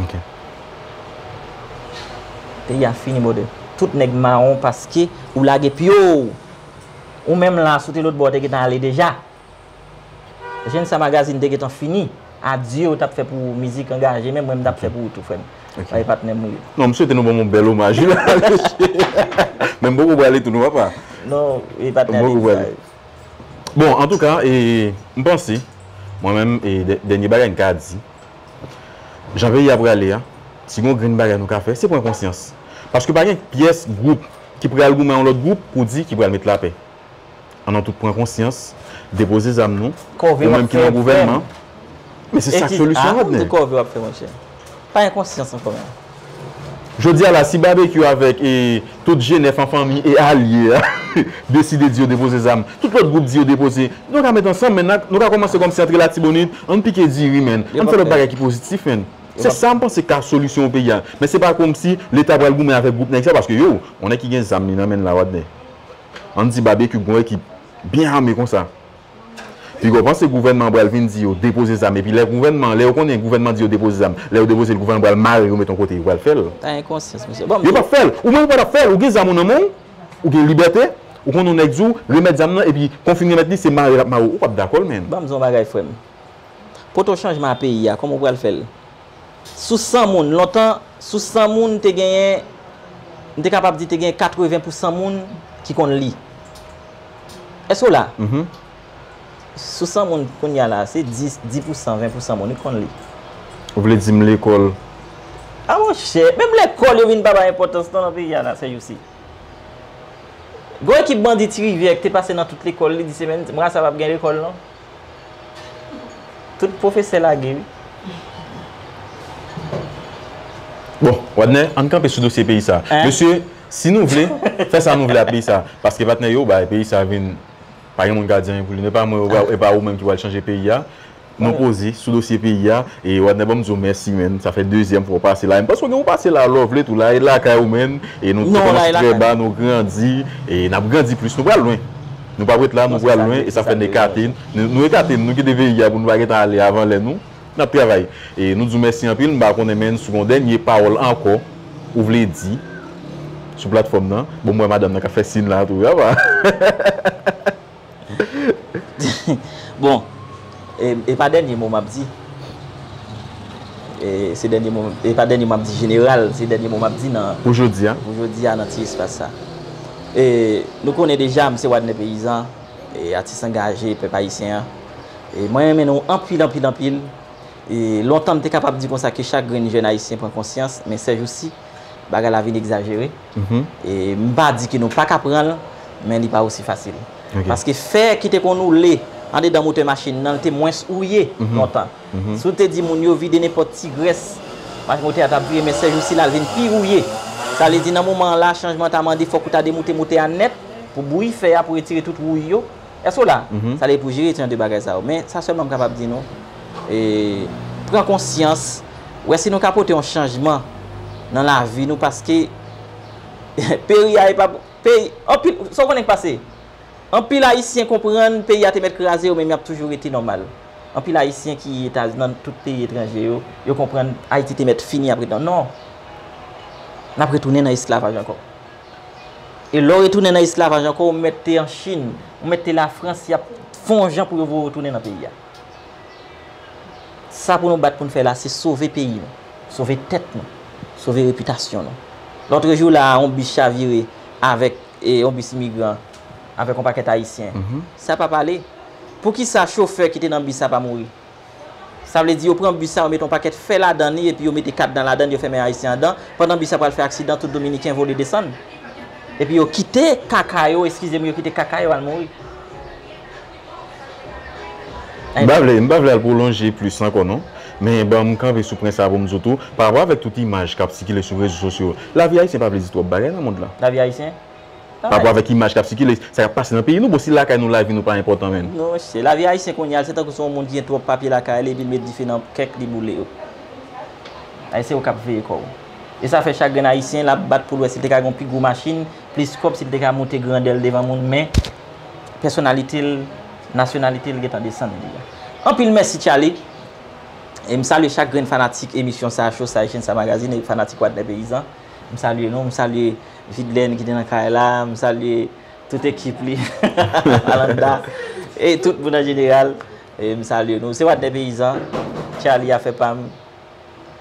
Ok. Peyi a fini brother. Tout nèg mawon paske ou lage pyoo. Ou menm la si w te lotbò w te gentan ale deja. Jèn sa magazine te gentan fini. Adye w tap fè pou mizik angaje menm mwen m tap fè pou ou tou frè m. Ok. Paske patnè m ou ye. Non m swete nou ban m yon bèl omaj wi la mesye. Men m poko pwale tou non papa. Non e patnè a te di sa wi. Bon antouka e m panse mwen menm e dènye bagay m ka di jan peyi a prale a si gon grenn bagay nou ka fè se pran konsyans paske pa gen pyès gwoup ki pral goumen yon lòt gwoup pou di ki pral met lapè an nou tout pran konsyans depoze zam nou ou menm ki nan gouvènman men se sak solisyon wap gen. Pa gen konsyans ankò menm. Jodi a la, si Babekyou avèk e tout G9 an fanmi e alye a deside di yo depoze zam, tout lòt gwoup di yo depoze, nou ka met ansanm menn, nou ka kòmanse kòmsi antre Latibonit, ann pike diri menn, ann fè lòt bagay ki pozitif menn. Se sa m panse ki ka solisyon pou peyi a. Men se pa kòmsi Leta pral goumen avèk gwoup nèg sa paske yo, on nèg ki gen zam li nan men l la Wadner, ann di Babekyou gon ekip byen ame konsa. Pigaw panse gouvènman an pral vin di yo depoze zam epi lè gouvènman an lè yo konnen gouvènman an di yo depoze zam lè yo depoze l gouvènman an pral mare yo met yon kote yo pral fè l yo pap fè l ou menm ou pa tap fè l ou gen zam ou nan men w ou gen libète ou konnen yon nèg di w remèt zam nan epi kon fin remèt li se mare l ap mare w ou pap dakò l menn. Banm di w yon bagay frè m poto chanjman a peyi a kòman ou pral fè l Sou 100 moun, lontan, sou 100 moun te genyen, m te kapab di te genyen 80 pou 100 moun ki konn li. Èske w la? Sou 100 moun kounye a la, se 10, 10 pou 100, 20 pou 100 moun wi ki konn li. Ou vle di m lekòl? A monchè, menm lekòl yo vin pa bay enpòtans non nan peyi a la sèjousi. Gon ekip bandi Ti Rivyè ki te pase nan tout lekòl li di se menm, m rasa pa p gen lekòl non. Tout pwofesè lage wi. Bon, Wadner, ann kanpe sou dosye peyi sa. Mesye, si nou vle, fè sa nou vle a peyi sa. Paske patnè yo, bay peyi sa vin, pa gen moun ka di anyen pou li. Epa mwen yo, epa ou menm ki pral chanje peyi a. Nou poze sou dosye peyi a. E Wadner banm di w mèsi menn. Sa fè dezyèm fwa w pase la. E m panse w gen pou w pase la lò w vle tou. La e lakay ou menn. E nou te kòmanse trè ba, nou grandi. E n ap grandi plis. Nou pral lwen. Nou pap ret la, nou pral lwen e sa fè n ekate n. Nou ekate n, nou kite veyi a pou nou pa gentan ale avan lè nou. N ap travay. E nou di w mèsi anpil. M pa konnen men sou gon dènye pawòl ankò ou vle di sou platfòm nan. Bon m wè madanm nan k ap fè sin la tou. Apa! Bon! E pa dènye mo map di Se dènye mo E pa dènye mo map di jeneral Se dènye mo map di nan Pou jodi a Pou jodi a nan ti espas sa E nou konnen deja m se Wadner Peyizan E atis angaje pèp ayisyen an E mwen renmen nou anpil anpil anpil E lontan m te kapab di konsa ke chak grenn jèn ayisyen pran konsyans Men sèjousi bagay la vin egzajere E m pa di ke nou pa ka pran l, men li pa osi fasil. Paske fè ki te konn oule andedan motè machin nan, li te mwens ouye lontan. Si w te di moun yo vide nenpòt ti grès, motè a t ap vire, men sèjousi la, li vin pi ouye. Sa vle di nan moman an la, chanjman ta mande fòk ou ta demoute motè a nèt pou bouyi fè a, pou retire tout wouy yo. Èske w la? Sa vle di pou jere etidyan de bagay sa yo. Men, sa sèlman m kapab di nou, pran konsyans, wè si nou ka pote yon chanjman nan lavi nou paske peri a e pa pou, peyi, anpil, sa w konnen k pase? Anpil Ayisyen konprann peyi a te mèt kraze yo men y ap toujou rete nòmal. Anpil Ayisyen ki Etazini, nan tout peyi etranje yo, yo konprann Ayiti te mèt fini apre dan. Non! N ap retounen nan esklavaj ankò. E lè w retounen nan esklavaj ankò ou mèt te an Chin, ou mèt te Lafrans y ap fon w jan pou yo voye w tounen nan peyi a. Sa pou nou bat pou n fè la se sove peyi nou, sove tèt nou, sove repitasyon nou. Lòtrejou la a yon bis chavire avèk yon bis imigran avèk yon pakèt Ayisyen. Sa pa pale. Poukisa chofè ki te nan bis sa pa mouri? Sa vle di yo pran bus sa yo mete yon pakèt fè ladan li epi yo mete kadna ladann yo fèmen ayisyen andan pandan bus la pral fè aksidan tout dominiken vole desann epi yo kite kaka yo eskizem yo kite kaka yo al mouri. M pa vle, m pa vle al pwolonje plis ankò non, men ban m kanpe sou pwen sa a pou m di w tou, parapò avèk tout imaj k ap sikile sou rezo sosyo, lavi ayisyen pa vle di twòp bagay nan mond lan. Lavi ayisyen? Pa rapò avèk imaj kap sikile, sa kap pase nan peyi nou, bon si lakay nou lavi nou pa enpòtan menm. Non mesye, lavi ayisyen kounye a se tankou se yon moun ki gen twòp papye lakay li epi l met dife nan kèk li boule yo. Ay se ou kap veye kò ou. E sa fè chak grenn ayisyen lap bat pou l wè si l te ka gen yon pi gwo machin, plis kòb, si l te ka moute grandè l devan moun men pèsonalite l, nasyonalite l gentan desann li a. Anpil mèsi Tchaly! E m salye chak grenn fanatik emisyon sa Cho Sa e Chenn Sa Magazine e fanatik Wadner Peyizan. M salye nou, m salye. Vidlène ki te nan kay la, m salye tout ekip li, Alanda, e tout moun an jeneral, m salye nou. Se Wadner Peyizan, Charly afè pa m,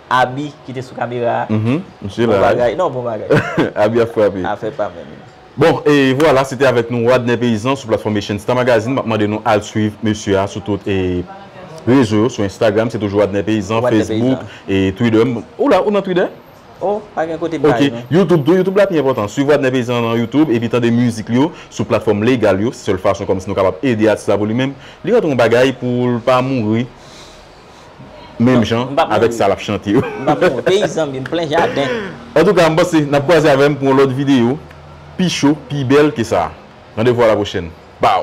Aby ki te sou kamera a, bon bagay, non bon bagay. Aby ap frape. Afè pa m. Bon, e vwala, se te avèk nou Wadner Peyizan sou platfòm Echenn Star Magazine. M ap mande nou al swiv mesye a sou tout rezo yo, sou Instagram se toujou Wadner Peyizan, Facebook, Twitter. Ou la, ou nan Twitter? Oh pa gen kote bay non. Ok YouTube tou YouTube la pi enpòtan swiv Wadner Paysan an nan YouTube epi tande mizik li yo sou platfòm legal yo se sèl fason kòmsi nou kapab ede atis la pou li menm li rantre yon bagay poul pa mouri menm jan avèk sa lap chante yo. M pap mouri peyi zanmim plen jaden. Antouka m panse nap kwaze avèm pou yon lòt videyo pi cho pi bèl ke sa. Randevou a la pwochèn. Baww.